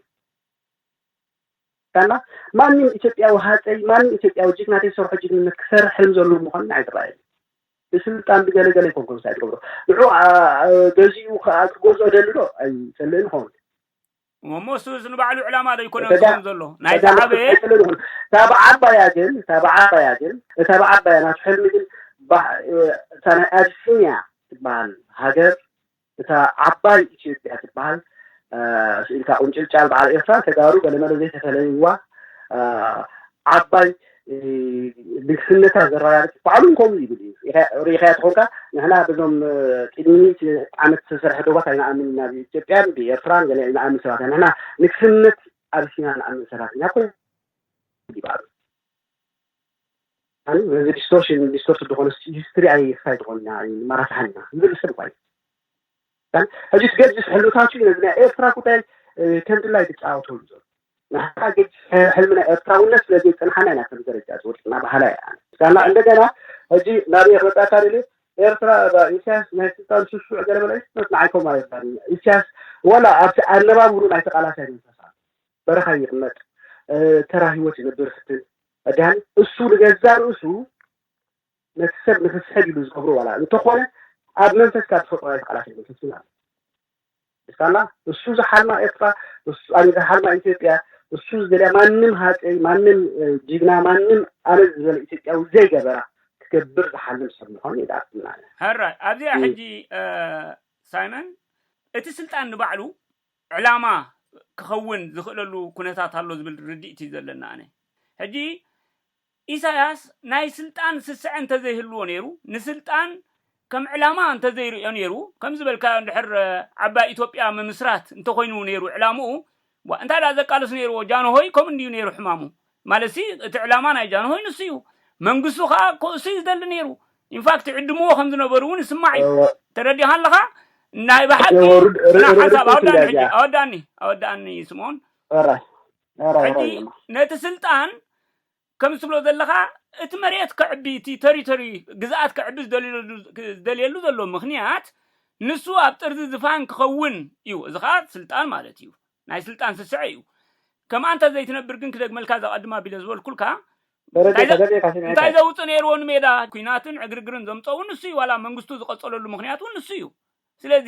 እና ማንም ኢትዮጵያዊ ሃፀይ ማንም ኢትዮጵያዊ ጅግና ዘይሰርሖ ጅግንነት ክሰርሕ ሕልም ዘለዎ ምዃኑ ንዓይ ዝረኣየኒ ብስልጣን ብገለ ገለ ይኮን ጎብሳይ ትገብሮ ንዑ ገዚኡ ከዓ ክገዝኦ ደሊ ዶ ኣይጸልእን ይኸውን እሞ እሱ እዚ ንባዕሉ ዕላማ ዶ ይኮነ ዝኸውን ዘሎ ናይ ዝዓበየ ኣይጸልእን ይኹን እታ ብዓባያ ግን እታ ብዓባያ ግን እታ ብዓባያ ናቱ ሕልሚ ግን እታ ናይ ኣቢሲንያ ትበሃል ሃገር እታ ዓባይ ኢትዮጵያ ትበሃል ስኢልካ ቁንጭልጫል በዓል ኤርትራን ተጋሩ ገለመለ ዘይተፈለይዋ ዓባይ ንግስነታ ዘረጋግጽ ባዕሉ ውን ከምኡ ይብል እዩ ርኢኻያ ተኾንካ ንሕና በዞም ቅድሚ ሚእቲ ዓመት ዝተሰርሐ ዶባት ኣይንኣምን ኢና ብኢትዮጵያን ብኤርትራን ገለ ንኣምን ሰባት ኢና ንሕና ንግስነት ኣቢሲና ንኣምን ሰባት ኢና ኮ ይባሉ ኣነ በዚ ዲስቶርሽን ዲስቶርሽን ዝኾነ ሂስትሪ ኣይ ክሳይ ዝኾንና ኣይ መራሳሓና ዝብል ሰብ ቋይ ሕጂ ገጅስ ሕልምታቱ ነዚ ናይ ኤርትራ ጉዳይ ከምድላይ ትጫወተሉ ዘሎ ንሓታ ገጅ ሕልሚ ናይ ኤርትራውነት ስለ ዘይጽንሓና ኢና ከም ደረጃ ዝወድቅና በሃላ እያ ኣነ ሳላ እንደገና ሕጂ ናብ እየ ክመጻካ ደልየ ኤርትራ እባ ኢሳያስ ናይ ስልጣን ሽሹዕ ገለ በለ ንዓይ ከምኡ ኣይባል ኢሳያስ ወላ ኣብቲ ኣነባብሩ ናይ ተቃላሳይ መንፈስ ኣሎ በረኻ ይቕመጥ ተራ ህይወት ይነብር ፍትን ዳኒ እሱ ንገዛ ርእሱ ነቲ ሰብ ንክስሕብ ኢሉ ዝገብሮ ዋላ እንተኾነ ኣብ መንፈስካ ዝፈጥሮ ናይ ተቓላሳይ መንፈስ ግን ኣሎ ስታላ እሱ ዝሓልማ ኤርትራ እሱ ኣሜ ዝሓልማ ኢትዮጵያ እሱ ዝደልያ ማንም ሃፀይ ማንም ጅግና ማንም ኣነ ዝበለ ኢትዮጵያዊ ዘይገበራ ክገብር ዝሓልም ሰብ ምዃኑ የዳርትናለ ሕራይ ኣብዚኣ ሕጂ ሳይመን እቲ ስልጣን ንባዕሉ ዕላማ ክኸውን ዝኽእለሉ ኩነታት ኣሎ ዝብል ርድኢት እዩ ዘለኒ ኣነ። ሕጂ ኢሳያስ ናይ ስልጣን ስስዐ እንተዘይህልዎ ነይሩ፣ ንስልጣን ከም ዕላማ እንተዘይርእዮ ነይሩ፣ ከም ዝበልካዮ እንድሕር ዓባይ ኢትዮጵያ ምምስራት እንተኾይኑ ነይሩ ዕላምኡ፣ ዋእ እንታይ ደኣ ዘቃልስ ነይርዎ፣ ጃንሆይ ከምኡ እንድዩ ነይሩ ሕማሙ፣ ማለትሲ እቲ ዕላማ ናይ ጃንሆይ ንሱ እዩ። መንግስቱ ከኣ ከእሱ እዩ ዝደሊ ነይሩ። ኢንፋክት ይዕድምዎ ከም ዝነበሩ እውን ይስማዕ እዩ። እወ ተረዲኻን ኣለኻ? ናይ ብሓቂ እወ ርድ- ር- ጽናዕ ር- ሓንሳብ ርድእተይ ኣወዳእኒ እያ ሕጂ እዚኣ ኣወዳእኒ ኣወዳእኒ ስምኦን ሕራይ ሕራይ ሕጂ ሕራይ እዮማ ነቲ ስልጣን ከም ትብሎ ዘለኻ እቲ መሬት ከዕቢ እቲ ተሪቶሪ ግዝኣት ከዕቢ ዝደልየሉ ዝደልየሉ ዘሎ ምኽንያት ንሱ ኣብ ጥርዚ ዝፋን ክኸውን እዩ። እዚ ኸኣ ስልጣን ማለት እዩ። ናይ ስልጣን ስስዐ እዩ ከምኣ እንተ ዘይትነብር ግን ክደግመልካ ዘቐድም ኣቢለ ዝበልኩልካ እንታይ ዘውፅ ነይርዎ ንሜዳ ኩናትን ዕግርግርን ዘምፀ እውን ንሱ እዩ ዋላ መንግስቱ ዝቐፀለሉ ምክንያት እውን ንሱ እዩ ስለዚ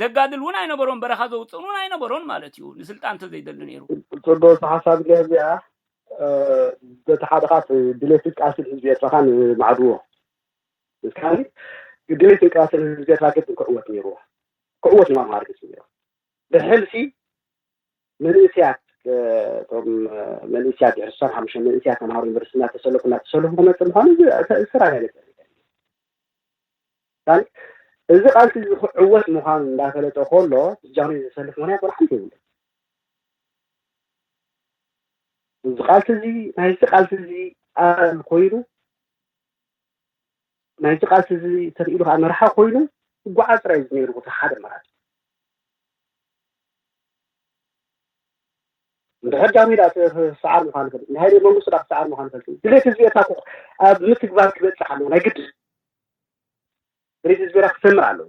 ዘጋድል እውን ኣይነበሮን በረኻ ዘውፅእን እውን ኣይነበሮን ማለት እዩ ንስልጣን ተዘይደሊ ነይሩ ፅቡቅ ሓሳብ እያ እዚኣ በቲ ሓደ ካት ድሌት ቃስል ህዝቢ ኤርትራኻን ማዕድዎ እስካኒ ድሌት ቃስል ህዝቢ ኤርትራ ግድን ክዕወት ነይርዎ ክዕወት ንማምሃር ግፅ ነይሩ ብሕልፊ መንእስያት እቶም መንእስያት ድሕሪ ስሳን ሓሙሽተ መንእስያት ተምሃሮ ዩኒቨርሲቲ እናተሰለፉ እናተሰለፉ ክመፅእ ምዃኑ ስራይ ናይ ነፀ እዚ ቃልሲ እዚ ክዕወት ምዃኑ እንዳፈለጠ ከሎ ብጃኑ ዘሰልፍ ምክንያት ወላ ሓንቲ የብሉ እዚ ቃልሲ እዚ ናይዚ ቃልሲ እዚ ኣል ኮይኑ ናይቲ ቃልሲ እዚ ተኽኢሉ ከዓ መርሓ ኮይኑ ክጓዓዝ ጥራይ እዩ ነይሩ እቲ ሓደ ኣማራፂ እንድሕር ጃንሆይ ደኣ ክሰዓር ምዃኑ ይፈልጥ ናይ ሃይለ መንግስቱ ደኣ ክሰዓር ምዃኑ ይፈልጥ ድሌት ህዝቢ ኤርትራ እኮ ኣብ ምትግባር ክበፅሕ ኣለዎ ናይ ግድ ድሌት ህዝቢ ኤርትራ ክሰምር ኣለዎ